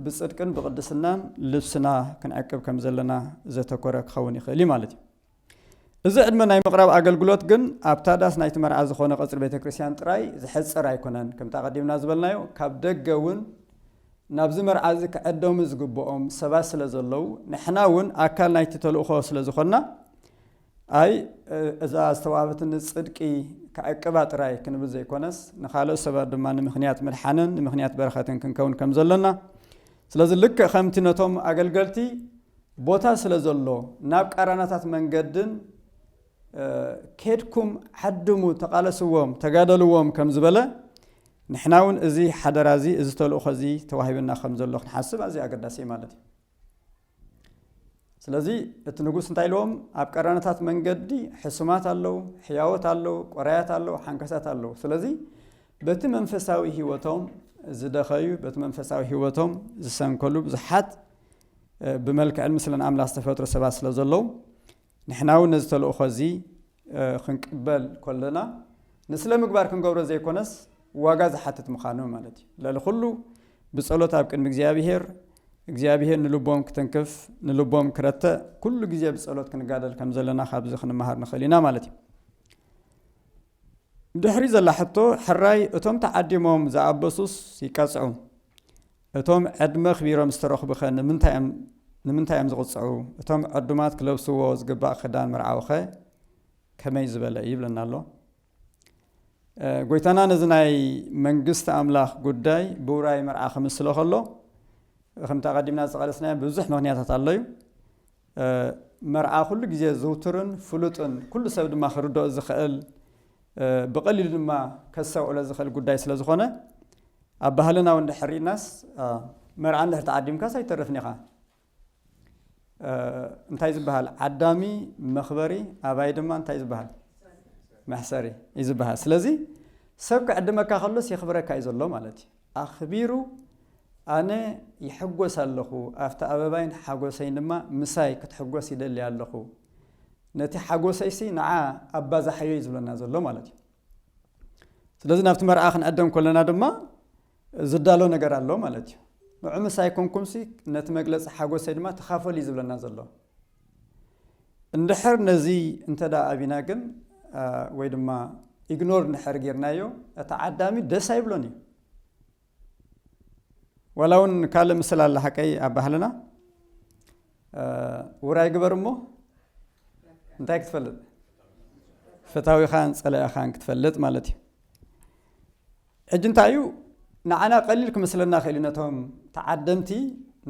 ብፅድቅን ብቅድስናን ልብስና ክንዕቅብ ከም ዘለና ዘተኮረ ክኸውን ይኽእል እዩ ማለት እዩ እዚ ዕድመ ናይ ምቕራብ ኣገልግሎት ግን ኣብታ ዳስ ናይቲ መርዓ ዝኾነ ቀፅሪ ቤተ ክርስቲያን ጥራይ ዝሕፀር ኣይኮነን ከምቲ ኣቐዲምና ዝበልናዮ ካብ ደገ እውን ናብዚ መርዓዚ ክዕደሙ ዝግብኦም ሰባት ስለ ዘለዉ፣ ንሕና እውን ኣካል ናይቲ ተልእኾ ስለ ዝዀንና፣ ኣይ እዛ ዝተዋህበትኒ ጽድቂ ከዕቅባ ጥራይ ክንብል ዘይኰነስ፣ ንኻልኦት ሰባት ድማ ንምኽንያት ምድሓንን ንምኽንያት በረኸትን ክንከውን ከም ዘሎና፣ ስለዚ ልክዕ ከምቲ ነቶም ኣገልገልቲ ቦታ ስለ ዘሎ ናብ ቃራናታት መንገድን ኬድኩም ዓድሙ፣ ተቓለስዎም፣ ተጋደልዎም ከም ዝበለ፣ ንሕናውን እዚ ሓደራ እዚ እዚ ተልእኾ እዚ ተዋሂብና ከም ዘሎ ክንሓስብ ኣዝዩ ኣገዳሲ እዩ ማለት እዩ። ስለዚ እቲ ንጉስ እንታይ ኢልዎም ኣብ ቀራነታት መንገዲ ሕሱማት ኣለው ሕያወት ኣለው ቆራያት ኣለው ሓንከሳት ኣለው ስለዚ በቲ መንፈሳዊ ህይወቶም ዝደኸዩ በቲ መንፈሳዊ ህይወቶም ዝሰንከሉ ብዙሓት ብመልክዕን ምስለን ኣምላኽ ዝተፈጥሩ ሰባት ስለ ዘለው ንሕናውን ነዚ ተልእኾ እዚ ኽንቅበል ከሎና ንስለ ምግባር ክንገብሮ ዘይኰነስ ዋጋ ዝሓትት ምዃኑ ማለት እዩ። ልዕሊ ዅሉ ብጸሎት ኣብ ቅድሚ እግዚኣብሄር እግዚኣብሄር ንልቦም ክትንክፍ ንልቦም ክረትዕ ኵሉ ግዜ ብጸሎት ክንጋደል ከም ዘለና ካብዚ ክንመሃር ንኽእል ኢና ማለት እዩ። ድሕሪ ዘላ ሕቶ ሕራይ እቶም ተዓዲሞም ዝኣበሱስ ይቀጽዑ እቶም ዕድመ ኣኽቢሮም ዝተረኽቡኸ ንምንታይ እዮም ዝቕፅዑ? እቶም ዕዱማት ክለብስዎ ዝግባእ ክዳን መርዓዊኸ ከመይ ዝበለ እዩ? ይብለና ኣሎ። ጎይታና ነዚ ናይ መንግስቲ ኣምላኽ ጉዳይ ብውራይ መርዓ ክምስሎ ከሎ ከምቲ ኣቐዲምና ዝጠቐለስናዮ ብዙሕ ምክንያታት ኣሎ እዩ። መርዓ ኩሉ ግዜ ዝውቱርን ፍሉጥን ኩሉ ሰብ ድማ ክርድኦ ዝኸእል ብቐሊሉ ድማ ከስተውዕሎ ዝኸእል ጉዳይ ስለ ዝኾነ ኣብ ባህልና እውን ድሕር ሪእናስ መርዓ እንድሕር ተዓዲምካስ ኣይተርፍን ኢኻ እንታይ ዝበሃል ዓዳሚ መኽበሪ ኣባይ ድማ እንታይ ዝበሃል መሕሰሪ እዩ ዝበሃል ስለዚ ሰብ ክዕድመካ ከሎስ የኽብረካ እዩ ዘሎ ማለት እዩ ኣኽቢሩ ኣነ ይሕጎስ ኣለኹ ኣብቲ ኣበባይን ሓጎሰይን ድማ ምሳይ ክትሕጎስ ይደሊ ኣለኹ ነቲ ሓጎሰይሲ ንዓ ኣባዛሓዮ እዩ ዝብለና ዘሎ ማለት እዩ ስለዚ ናብቲ መርዓ ክንዕደም ከለና ድማ ዝዳሎ ነገር ኣሎ ማለት እዩ ንዑ ምሳይ ኮንኩምሲ ነቲ መግለፂ ሓጎሰይ ድማ ተኻፈሉ እዩ ዝብለና ዘሎ እንድሕር ነዚ እንተ ኣቢና ግን ወይ ድማ ኢግኖር እንድሕር ጌርናዮ እቲ ዓዳሚ ደስ ኣይብሎን እዩ ዋላ እውን ካልእ ምስል ኣለ ሓቀይ ኣብ ባህልና ውራይ ግበር እሞ እንታይ ክትፈልጥ ፍታዊኻን ፀላኢኻን ክትፈልጥ ማለት እዩ ሕጂ እንታይ እዩ ንዓና ቀሊል ክመስለና ክእል እዩ ነቶም ተዓደምቲ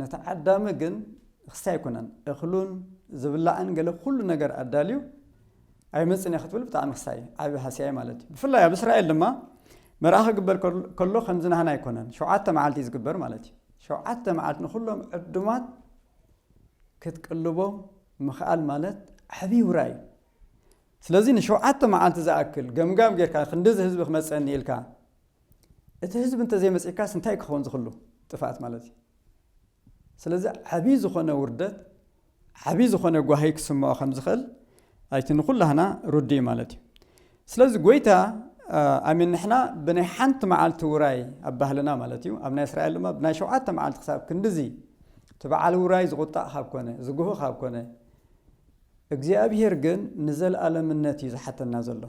ንተዓዳሚ ግን ክስታይ ኣይኮነን እኽሉን ዝብላዕን ገለ ኩሉ ነገር ኣዳልዩ ኣይመጽን እየ ክትብል ብጣዕሚ ክስታይ ዓቢ ሃስያይ ማለት እዩ ብፍላይ ኣብ እስራኤል ድማ መርኣ ክግበር ከሎ ከምዚ ናህና ኣይኮነን ሸውዓተ መዓልቲ እዩ ዝግበር ማለት እዩ ሸውዓተ መዓልቲ ንኩሎም ዕዱማት ክትቅልቦም ምኽኣል ማለት ዓብዪ ውራ እዩ ስለዚ ንሸውዓተ መዓልቲ ዝኣክል ገምጋም ጌርካ ክንድዚ ህዝቢ ክመጸኒ ኢልካ እቲ ህዝቢ እንተዘይመጺካስ እንታይ ክኸውን ዝኽሉ ጥፍኣት ማለት እዩ። ስለዚ ዓቢ ዝኾነ ውርደት ዓቢ ዝኾነ ጓሂ ክስምዖ ከም ዝኽእል ኣይቲ ንኹላህና ርዱእ እዩ ማለት እዩ። ስለዚ ጎይታ ኣሜን ንሕና ብናይ ሓንቲ መዓልቲ ውራይ ኣብ ባህልና ማለት እዩ ኣብ ናይ እስራኤል ድማ ብናይ ሸውዓተ መዓልቲ ክሳብ ክንድዚ እቲ በዓል ውራይ ዝቑጣዕ ካብ ኮነ ዝጉህ ካብ ኮነ እግዚኣብሄር ግን ንዘልኣለምነት እዩ ዝሓተና ዘሎ።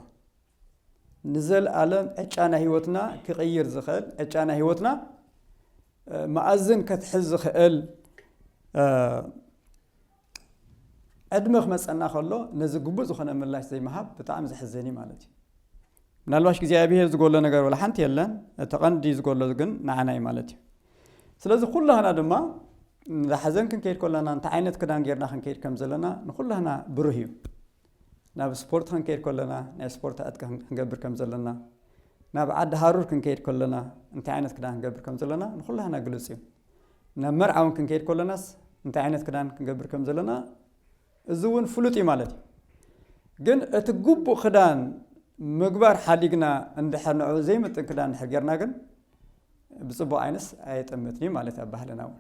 ንዘልኣለም ዕጫ ናይ ህይወትና ክቕይር ዝኽእል፣ ዕጫ ናይ ህይወትና መኣዝን ከትሕዝ ዝኽእል ዕድመ ክመፀና ከሎ ነዚ ግቡእ ዝኾነ ምላሽ ዘይምሃብ ብጣዕሚ ዘሕዝን እዩ ማለት እዩ። ምናልባሽ እግዚኣብሄር ዝጎሎ ነገር ወላ ሓንቲ የለን፣ እቲ ቐንዲ ዝጎሎ ግን ንዓና እዩ ማለት እዩ። ስለዚ ኩላህና ድማ ንሓዘን ክንከይድ ከለና እንታይ ዓይነት ክዳን ጌርና ክንከይድ ከም ዘለና ንኩላህና ብሩህ እዩ ናብ ስፖርት ክንከይድ ከለና ናይ ስፖርት ዕጥቂ ክንገብር ከም ዘለና ናብ ዓዲ ሃሩር ክንከይድ ከለና እንታይ ዓይነት ክዳን ክንገብር ከም ዘለና ንኩላህና ግልፅ እዩ ናብ መርዓ እውን ክንከይድ ከለናስ እንታይ ዓይነት ክዳን ክንገብር ከም ዘለና እዚ እውን ፍሉጥ እዩ ማለት እዩ። ግን እቲ ግቡእ ክዳን ምግባር ሓዲግና እንድሕር ንዕኡ ዘይምጥን ክዳን እንድሕር ጌርና ግን ብጽቡቕ ዓይነስ ኣየጠምትን እዩ ማለት ኣብ ባህልና እውን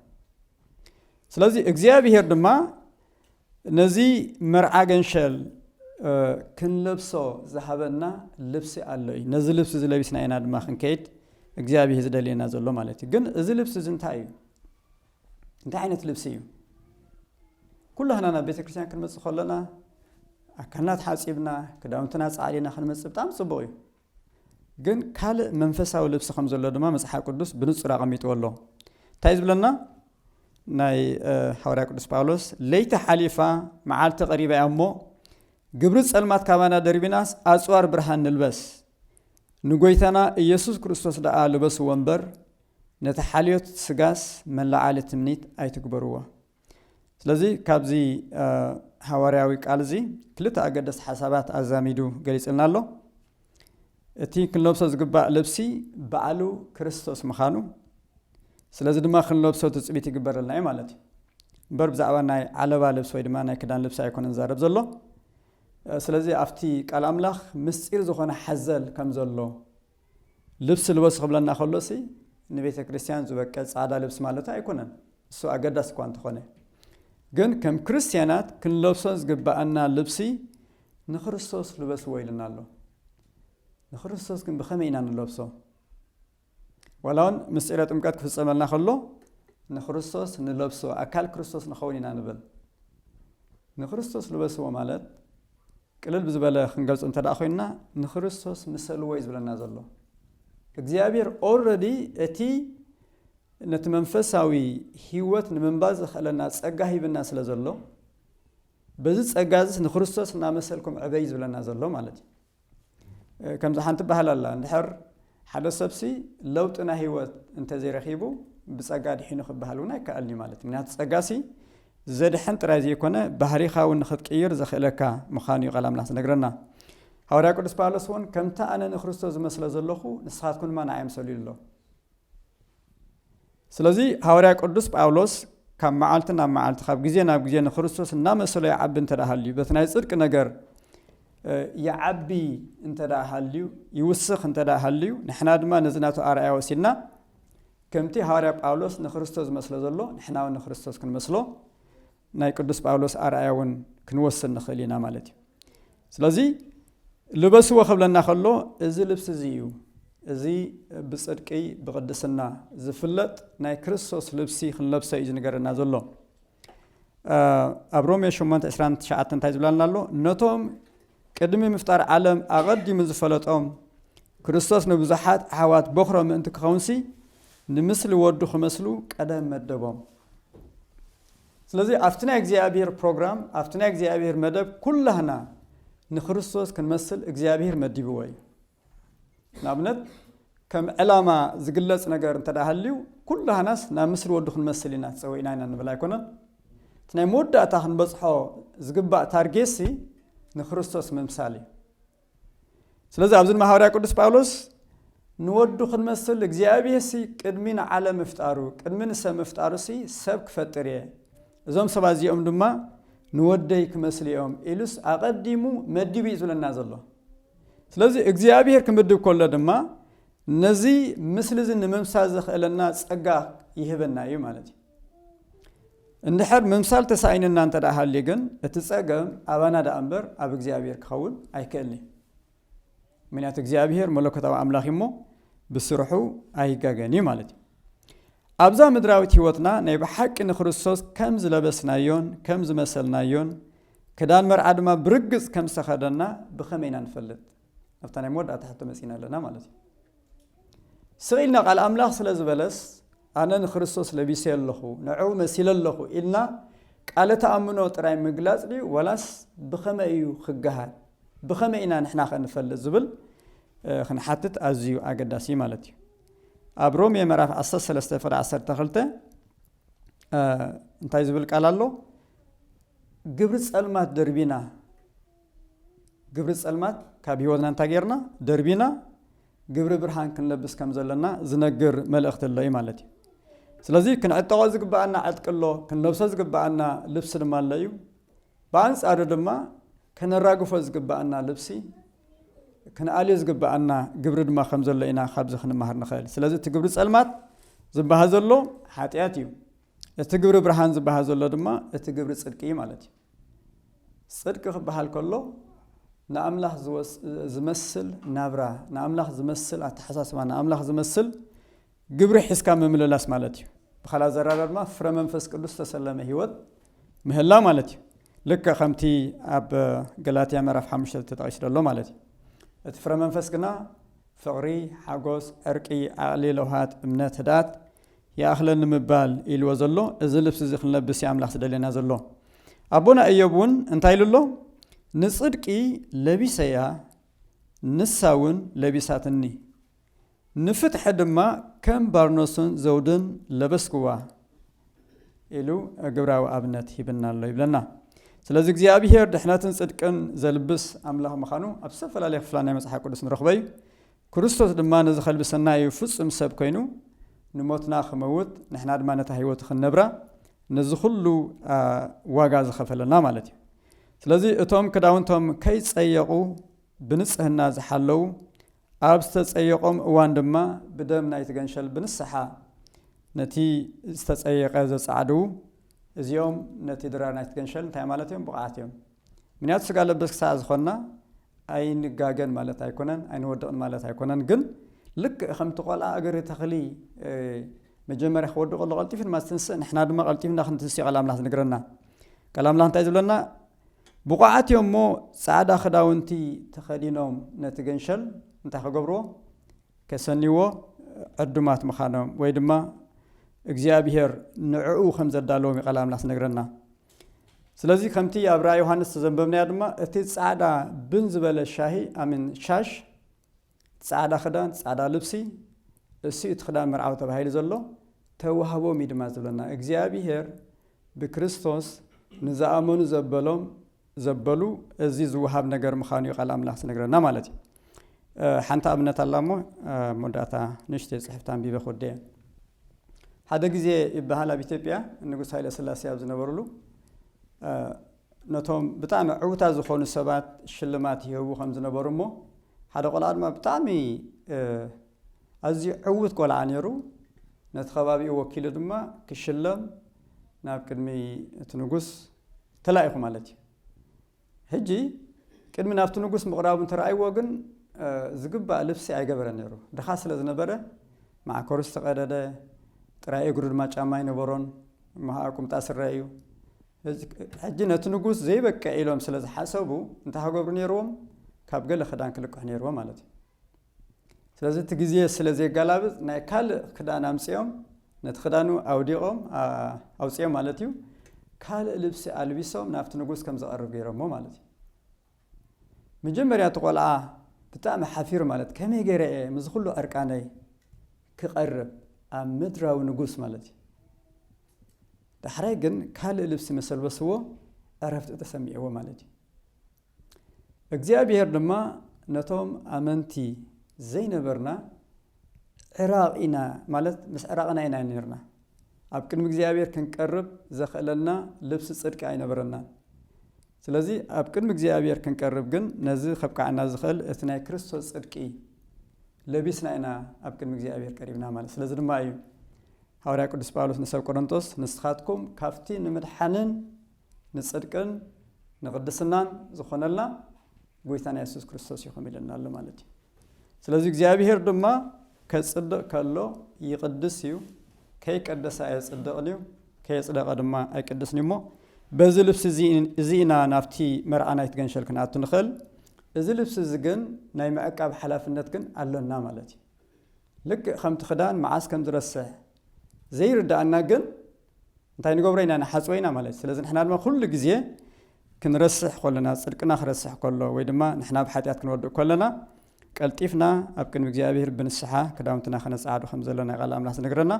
ስለዚ እግዚኣብሄር ድማ ነዚ መርዓ ገንሸል ክንለብሶ ዝሃበና ልብሲ ኣሎ እዩ ነዚ ልብሲ እዚ ለቢስና ኢና ድማ ክንከይድ እግዚኣብሄር ዝደልየና ዘሎ ማለት እዩ ግን እዚ ልብሲ እዚ እንታይ እዩ እንታይ ዓይነት ልብሲ እዩ? ኩላህና ናብ ቤተ ክርስቲያን ክንመጽእ ከሎና ኣካልና ተሓጺብና ክዳውንትና ጻዕዲና ክንመጽእ ብጣዕሚ ጽቡቕ እዩ። ግን ካልእ መንፈሳዊ ልብሲ ከም ዘሎ ድማ መጽሓፍ ቅዱስ ብንጹር ኣቐሚጥዎ ኣሎ እንታይ ዝብለና ናይ ሓዋርያ ቅዱስ ጳውሎስ ለይቲ ሓሊፋ መዓልቲ ቀሪባ እያ እሞ ግብሪ ጸልማት ካባና ደርቢናስ ኣጽዋር ብርሃን ንልበስ ንጎይታና ኢየሱስ ክርስቶስ ደኣ ልበስዎ እምበር ነቲ ሓልዮት ስጋስ መለዓሊ ትምኒት ኣይትግበርዎ። ስለዚ ካብዚ ሃዋርያዊ ቃል እዚ ክልተ ኣገደስቲ ሓሳባት ኣዛሚዱ ገሊጽልና ኣሎ። እቲ ክንለብሶ ዝግባእ ልብሲ ባዕሉ ክርስቶስ ምዃኑ ስለዚ ድማ ክንለብሶ ትጽቢት ይግበረልና እዩ ማለት እዩ። እምበር ብዛዕባ ናይ ዓለባ ልብሲ ወይ ድማ ናይ ክዳን ልብሲ ኣይኮነን ዝዛረብ ዘሎ። ስለዚ ኣብቲ ቃል ኣምላኽ ምስጢር ዝኾነ ሓዘል ከም ዘሎ ልብሲ ልበሱ ክብለና ከሎሲ ንቤተ ክርስቲያን ዝበቀ ጻዕዳ ልብሲ ማለቱ ኣይኮነን፣ እሱ ኣገዳሲ እኳ እንተኾነ። ግን ከም ክርስቲያናት ክንለብሶ ዝግብኣና ልብሲ ንክርስቶስ ልበስዎ ኢሉና ኣሎ። ንክርስቶስ ግን ብኸመይ ኢና ንለብሶ? ዋላ እውን ምስጢረ ጥምቀት ክፍጸመልና ከሎ ንክርስቶስ ንለብሶ፣ ኣካል ክርስቶስ ንኸውን ኢና ንብል። ንክርስቶስ ልበስዎ ማለት ቅልል ብዝበለ ክንገልጾ እንተድኣ ኮይንና ንክርስቶስ ምሰልዎ እዩ ዝብለና ዘሎ። እግዚኣብሔር ኦረዲ እቲ ነቲ መንፈሳዊ ህይወት ንምንባር ዘኽእለና ጸጋ ሂብና ስለ ዘሎ በዚ ጸጋ እዚስ ንክርስቶስ እናመሰልኩም ዕበዩ ዝብለና ዘሎ ማለት እዩ። ከምዚ ሓንቲ ባህል ኣላ እንድሕር ሓደ ሰብሲ ለውጢ ናይ ህይወት እንተዘይረኺቡ ብጸጋ ድሒኑ ክበሃል እውን ኣይከኣልን'ዩ ማለት እዩ። ምኽንያቱ ጸጋሲ ዘድሕን ጥራይ ዘይኮነ ባህሪኻ እውን ንኽትቅይር ዘኽእለካ ምዃኑ'ዩ ቃል ኣምላኽ ዝነግረና። ሃዋርያ ቅዱስ ጳውሎስ እውን ከምቲ ኣነ ንክርስቶስ ዝመስሎ ዘለኹ ንስኻትኩም ድማ ንኣይ ምሰሉ ኢሉ ኣሎ። ስለዚ ሃዋርያ ቅዱስ ጳውሎስ ካብ መዓልቲ ናብ መዓልቲ ካብ ግዜ ናብ ግዜ ንክርስቶስ እናመሰሎ ይዓቢ እንተ ሃልዩ በቲ ናይ ጽድቂ ነገር ይዓቢ እንተ ሃልዩ ይውስኽ እንተ ሃልዩ ንሕና ድማ ነዚ ናቱ ኣርኣያ ወሲድና ከምቲ ሃዋርያ ጳውሎስ ንክርስቶስ ዝመስሎ ዘሎ ንሕና እውን ንክርስቶስ ክንመስሎ ናይ ቅዱስ ጳውሎስ ኣርኣያ እውን ክንወስድ ንኽእል ኢና ማለት እዩ ስለዚ ልበስዎ ክብለና ከሎ እዚ ልብሲ እዚ እዩ እዚ ብፅድቂ ብቅድስና ዝፍለጥ ናይ ክርስቶስ ልብሲ ክንለብሰ እዩ ዝንገረና ዘሎ ኣብ ሮሜ 8 29 እንታይ ዝብላልና ኣሎ ነቶም ቅድሚ ምፍጣር ዓለም ኣቐዲሙ ዝፈለጦም ክርስቶስ ንብዙሓት ኣሕዋት ቦኽሮ ምእንቲ ክኸውንሲ ንምስሊ ወዱ ክመስሉ ቀደም መደቦም ስለዚ ኣብቲ ናይ እግዚኣብሄር ፕሮግራም ኣብቲ ናይ እግዚኣብሄር መደብ ኩላህና ንክርስቶስ ክንመስል እግዚኣብሄር መዲብዎ እዩ ንኣብነት ከም ዕላማ ዝግለጽ ነገር እንተ ሃልዩ ኩላህናስ ናብ ምስሊ ወዱ ክንመስል ኢና ተጸዊእና ኢና ንብል ኣይኮነን እቲ ናይ መወዳእታ ክንበጽሖ ዝግባእ ታርጌሲ ንክርስቶስ ምምሳል እዩ ስለዚ ኣብዚ ድማ ሃዋርያ ቅዱስ ጳውሎስ ንወዱ ክንመስል እግዚኣብሔርሲ ቅድሚ ንዓለም ምፍጣሩ ቅድሚ ንሰብ ምፍጣሩሲ ሰብ ክፈጥር እየ እዞም ሰባት እዚኦም ድማ ንወደይ ክመስሉ እዮም ኢሉስ ኣቐዲሙ መዲቡ እዩ ዝብለና ዘሎ ስለዚ እግዚኣብሔር ክምድብ ከሎ ድማ ነዚ ምስሊ እዚ ንምምሳል ዘኽእለና ጸጋ ይህበና እዩ ማለት እዩ እንድሕር ምምሳል ተሳኢንና እንተ ደኣ ሃልዩ ግን እቲ ጸገም ኣባና ደኣ እምበር ኣብ እግዚኣብሔር ክኸውን ኣይክእልን እዩ። ምክንያቱ እግዚኣብሔር መለኮታዊ ኣምላኽ እዩ እሞ ብስርሑ ኣይጋገን እዩ ማለት እዩ። ኣብዛ ምድራዊት ህይወትና ናይ ብሓቂ ንክርስቶስ ከም ዝለበስናዮን ከም ዝመሰልናዮን ክዳን መርዓ ድማ ብርግጽ ከም ዝተኸደና ብኸመይ ኢና ንፈልጥ? ኣብታ ናይ መወዳእታ ሕቶ መጺና ኣለና ማለት እዩ ስቕ ኢልና ቃል ኣምላኽ ስለ ዝበለስ ኣነ ንክርስቶስ ለቢሰ ኣለኹ ንዕኡ መሲለ ኣለኹ ኢልና ቃለ ተኣምኖ ጥራይ ምግላጽ ድዩ ወላስ ብኸመይ እዩ ክገሃር ብኸመይ ኢና ንሕና ከ ንፈልጥ ዝብል ክንሓትት ኣዝዩ ኣገዳሲ ማለት እዩ ኣብ ሮሜ ምዕራፍ 13 ፍረ 12 እንታይ ዝብል ቃል ኣሎ ግብሪ ጸልማት ደርቢና ግብሪ ጸልማት ካብ ህይወትና እንታይ ጌርና ደርቢና ግብሪ ብርሃን ክንለብስ ከም ዘለና ዝነግር መልእኽቲ ኣሎ እዩ ማለት እዩ። ስለዚ ክንዕጠቖ ዝግብኣና ዕጥቂ ኣሎ፣ ክንለብሶ ዝግብኣና ልብሲ ድማ ኣሎ እዩ። ብኣንጻሩ ድማ ከነራግፎ ዝግብኣና ልብሲ ክንኣልዮ ዝግብኣና ግብሪ ድማ ከም ዘሎ ኢና ካብዚ ክንመሃር ንኽእል። ስለዚ እቲ ግብሪ ጸልማት ዝበሃል ዘሎ ሓጢኣት እዩ። እቲ ግብሪ ብርሃን ዝበሃል ዘሎ ድማ እቲ ግብሪ ጽድቂ እዩ ማለት እዩ። ጽድቂ ክበሃል ከሎ ንኣምላኽ ዝመስል ናብራ፣ ንኣምላኽ ዝመስል ኣተሓሳስባ፣ ንኣምላኽ ዝመስል ግብሪ ሒዝካ ምምልላስ ማለት እዩ። ብኻልእ ኣዘራርባ ድማ ፍረ መንፈስ ቅዱስ ዝተሰለመ ህይወት ምህላ ማለት እዩ። ልክዕ ከምቲ ኣብ ገላትያ ምዕራፍ ሓሙሽተ ተጠቒሱ ዘሎ ማለት እዩ። እቲ ፍረ መንፈስ ግና ፍቕሪ፣ ሓጎስ፣ ዕርቂ፣ ዓቕሊ፣ ለውሃት፣ እምነት፣ ህድኣት፣ ይኣኽለኒ ምባል ኢልዎ ዘሎ እዚ ልብሲ እዚ ክንለብስ እዩ ኣምላኽ ዝደልየና ዘሎ። ኣቦና እዮብ እውን እንታይ ኢሉ ኣሎ? ንጽድቂ ለቢሰያ ንሳ እውን ለቢሳትኒ፣ ንፍትሒ ድማ ከም ባርኖስን ዘውድን ለበስክዋ ኢሉ ግብራዊ ኣብነት ሂብና ኣሎ ይብለና። ስለዚ እግዚኣብሄር ድሕነትን ጽድቅን ዘልብስ ኣምላኽ ምዃኑ ኣብ ዝተፈላለየ ክፍላ ናይ መጽሓፍ ቅዱስ ንረኽቦ እዩ። ክርስቶስ ድማ ነዚ ከልቢ ሰናይ እዩ ፍጹም ሰብ ኮይኑ ንሞትና ክመውት ንሕና ድማ ነታ ህይወቱ ክንነብራ ነዚ ኩሉ ዋጋ ዝኸፈለና ማለት እዩ ስለዚ እቶም ክዳውንቶም ከይጸየቑ ብንጽህና ዝሓለዉ ኣብ ዝተጸየቖም እዋን ድማ ብደም ናይቲ ገንሸል ብንስሓ ነቲ ዝተጸየቐ ዘጻዕድዉ እዚኦም ነቲ ድራር ናይቲ ገንሸል እንታይ ማለት እዮም ብቕዓት እዮም ምክንያቱ ስጋ ለበስ ክሳዕ ዝኾንና ኣይንጋገን ማለት ኣይኮነን፣ ኣይንወድቕን ማለት ኣይኮነን። ግን ልክዕ ከምቲ ቆልዓ እግሪ ተኽሊ መጀመርያ ክወድቕ ከሎ ቀልጢፉ ድማ ዝትንስእ ንሕና ድማ ቀልጢፍና ክንትንስእ ቃል ኣምላኽ ዝነግረና። ቃል ኣምላኽ እንታይ ዝብለና? ብቑዓት እዮም እሞ ጻዕዳ ክዳውንቲ ተኸዲኖም ነቲ ገንሸል እንታይ ክገብርዎ ከሰንይዎ ዕዱማት ምዃኖም ወይ ድማ እግዚኣብሄር ንዕኡ ከም ዘዳለዎም እዩ ቃል ኣምላኽ ዝነግረና። ስለዚ ከምቲ ኣብ ራእይ ዮሃንስ ዝተዘንበብናዮ ድማ እቲ ጻዕዳ ብን ዝበለ ሻሂ ኣሚን ሻሽ ጻዕዳ ክዳን ጻዕዳ ልብሲ እሱ እቲ ክዳን መርዓዊ ተባሂሉ ዘሎ ተዋህቦም እዩ ድማ ዝብለና እግዚኣብሄር ብክርስቶስ ንዝኣመኑ ዘበሎም ዘበሉ እዚ ዝወሃብ ነገር ምዃኑ እዩ ቃል ኣምላኽ ዝነግረና ማለት እዩ ሓንቲ ኣብነት ኣላ እሞ ኣብ መወዳእታ ንእሽተይ ፅሕፍቲ ኣንቢበ ክወድእ እየ። ሓደ ግዜ ይበሃል ኣብ ኢትዮጵያ ንጉስ ሃይለ ስላሴ ኣብ ዝነበሩሉ ነቶም ብጣዕሚ ዕውታት ዝኾኑ ሰባት ሽልማት ይህቡ ከም ዝነበሩ እሞ ሓደ ቆልዓ ድማ ብጣዕሚ ኣዝዩ ዕውት ቆልዓ ነይሩ ነቲ ከባቢኡ ወኪሉ ድማ ክሽለም ናብ ቅድሚ እቲ ንጉስ ተላኢኹ ማለት እዩ ሕጂ ቅድሚ ናብቲ ንጉስ ምቕራቡ እንተ ረኣይዎ ግን፣ ዝግባእ ልብሲ ኣይገበረን ነይሩ። ድኻ ስለ ዝነበረ፣ መዓኮሩ ዝተቐደደ፣ ጥራይ እግሩ ድማ ጫማ ኣይነበሮን፣ እሞ ኸኣ ቍምጣ ስረ እዩ። ሕጂ ነቲ ንጉስ ዘይበቅዕ ኢሎም ስለ ዝሓሰቡ፣ እንታይ ኽገብሩ ነይርዎም? ካብ ገለ ኽዳን ክልቅሑ ነይርዎም ማለት እዩ። ስለዚ እቲ ግዜ ስለ ዜጋላብጽ ናይ ካልእ ክዳን ኣምጺኦም ነቲ ክዳኑ ኣውዲቖም ኣውጺኦም ማለት እዩ ካልእ ልብሲ ኣልቢሶም ናብቲ ንጉስ ከም ዝቐርብ ገይሮሞ ማለት እዩ መጀመርያ እቲ ቆልዓ ብጣዕሚ ሓፊሩ ማለት ከመይ ገይረ እየ ምስ ኩሉ ዕርቃነይ ክቐርብ ኣብ ምድራዊ ንጉስ ማለት እዩ ዳሕራይ ግን ካልእ ልብሲ መሰልበስዎ ዕረፍቲ ተሰሚዕዎ ማለት እዩ እግዚኣብሄር ድማ ነቶም ኣመንቲ ዘይነበርና ዕራቕ ኢና ማለት ምስ ዕራቕና ኢና ኔርና ኣብ ቅድሚ እግዚኣብሄር ክንቀርብ ዘኽእለና ልብሲ ጽድቂ ኣይነበረናን። ስለዚ ኣብ ቅድሚ እግዚኣብሄር ክንቀርብ ግን ነዚ ከብቅዓና ዝኽእል እቲ ናይ ክርስቶስ ጽድቂ ለቢስና ኢና ኣብ ቅድሚ እግዚኣብሄር ቀሪብና ማለት ስለዚ ድማ እዩ ሃዋርያ ቅዱስ ጳውሎስ ንሰብ ቆሮንቶስ ንስኻትኩም ካብቲ ንምድሓንን ንጽድቅን ንቅድስናን ዝኾነልና ጎይታና የሱስ ክርስቶስ ይኹም ኢለና ኣሎ ማለት እዩ ስለዚ እግዚኣብሄር ድማ ከጽድቕ ከሎ ይቕድስ እዩ ከይቀደሰ ኣየጽድቕን እዩ ከየጽደቐ ድማ ኣይቅድስን እዩ እሞ በዚ ልብሲ እዚ ኢና ናብቲ መርዓ ናይቲ ገንሸል ክንኣቱ ንኽእል እዚ ልብሲ እዚ ግን ናይ ምዕቃብ ሓላፍነት ግን ኣሎና ማለት እዩ ልክዕ ከምቲ ክዳን መዓስ ከም ዝረስሕ ዘይርዳእና ግን እንታይ ንገብሮ ኢና ንሓጽቦ ኢና ማለት ስለዚ ንሕና ድማ ኩሉ ግዜ ክንረስሕ ኮለና ጽድቅና ክረስሕ ከሎ ወይ ድማ ንሕና ኣብ ሓጢኣት ክንወድእ ኮለና ቀልጢፍና ኣብ ቅድሚ እግዚኣብሔር ብንስሓ ክዳውንትና ከነጸዓዱ ከም ዘለና ቃል ኣምላኽ ዝነግረና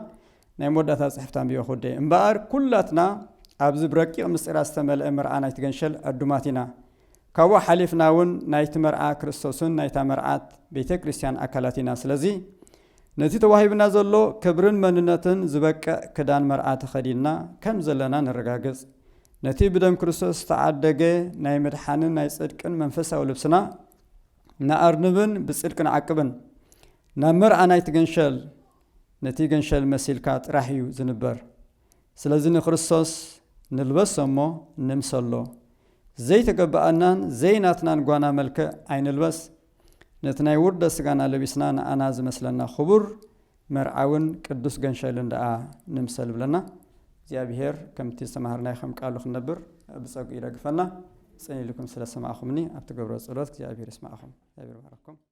ናይ መወዳእታ ጽሕፍት ኣንቢዮ ክውደየ እምበኣር ኩላትና ኣብዚ ብረቂቕ ምስጢራት ዝተመልአ መርዓ ናይቲ ገንሸል ዕዱማት ኢና ካብኡ ሓሊፍና እውን ናይቲ መርዓ ክርስቶስን ናይታ መርዓት ቤተ ክርስቲያን ኣካላት ኢና። ስለዚ ነቲ ተዋሂብና ዘሎ ክብርን መንነትን ዝበቅዕ ክዳን መርዓ ተኸዲንና ከም ዘለና ነረጋግጽ። ነቲ ብደም ክርስቶስ ዝተዓደገ ናይ ምድሓንን ናይ ጽድቅን መንፈሳዊ ልብስና ንኣርንብን ብጽድቂ ንዓቅብን። ናብ መርዓ ናይቲ ገንሸል ነቲ ገንሸል መሲልካ ጥራሕ እዩ ዝንበር። ስለዚ ንክርስቶስ ንልበሶ እሞ ንምሰሎ። ዘይተገብኣናን ዘይናትናን ጓና መልክዕ ኣይንልበስ። ነቲ ናይ ውርደት ስጋና ለቢስና ንኣና ዝመስለና ክቡር መርዓውን ቅዱስ ገንሸልን ደኣ ንምሰል እብለና። እግዚኣብሄር ከምቲ ዝተማሃርናዮ ከም ቃሉ ክንነብር ብጸግኡ ይደግፈና። ጽን ኢልኩም ስለ ሰማዕኹምኒ ኣብ ትገብርዎ ጸሎት እግዚኣብሄር ይስማዕኹም። እግዚኣብሄር ይባርኽኩም።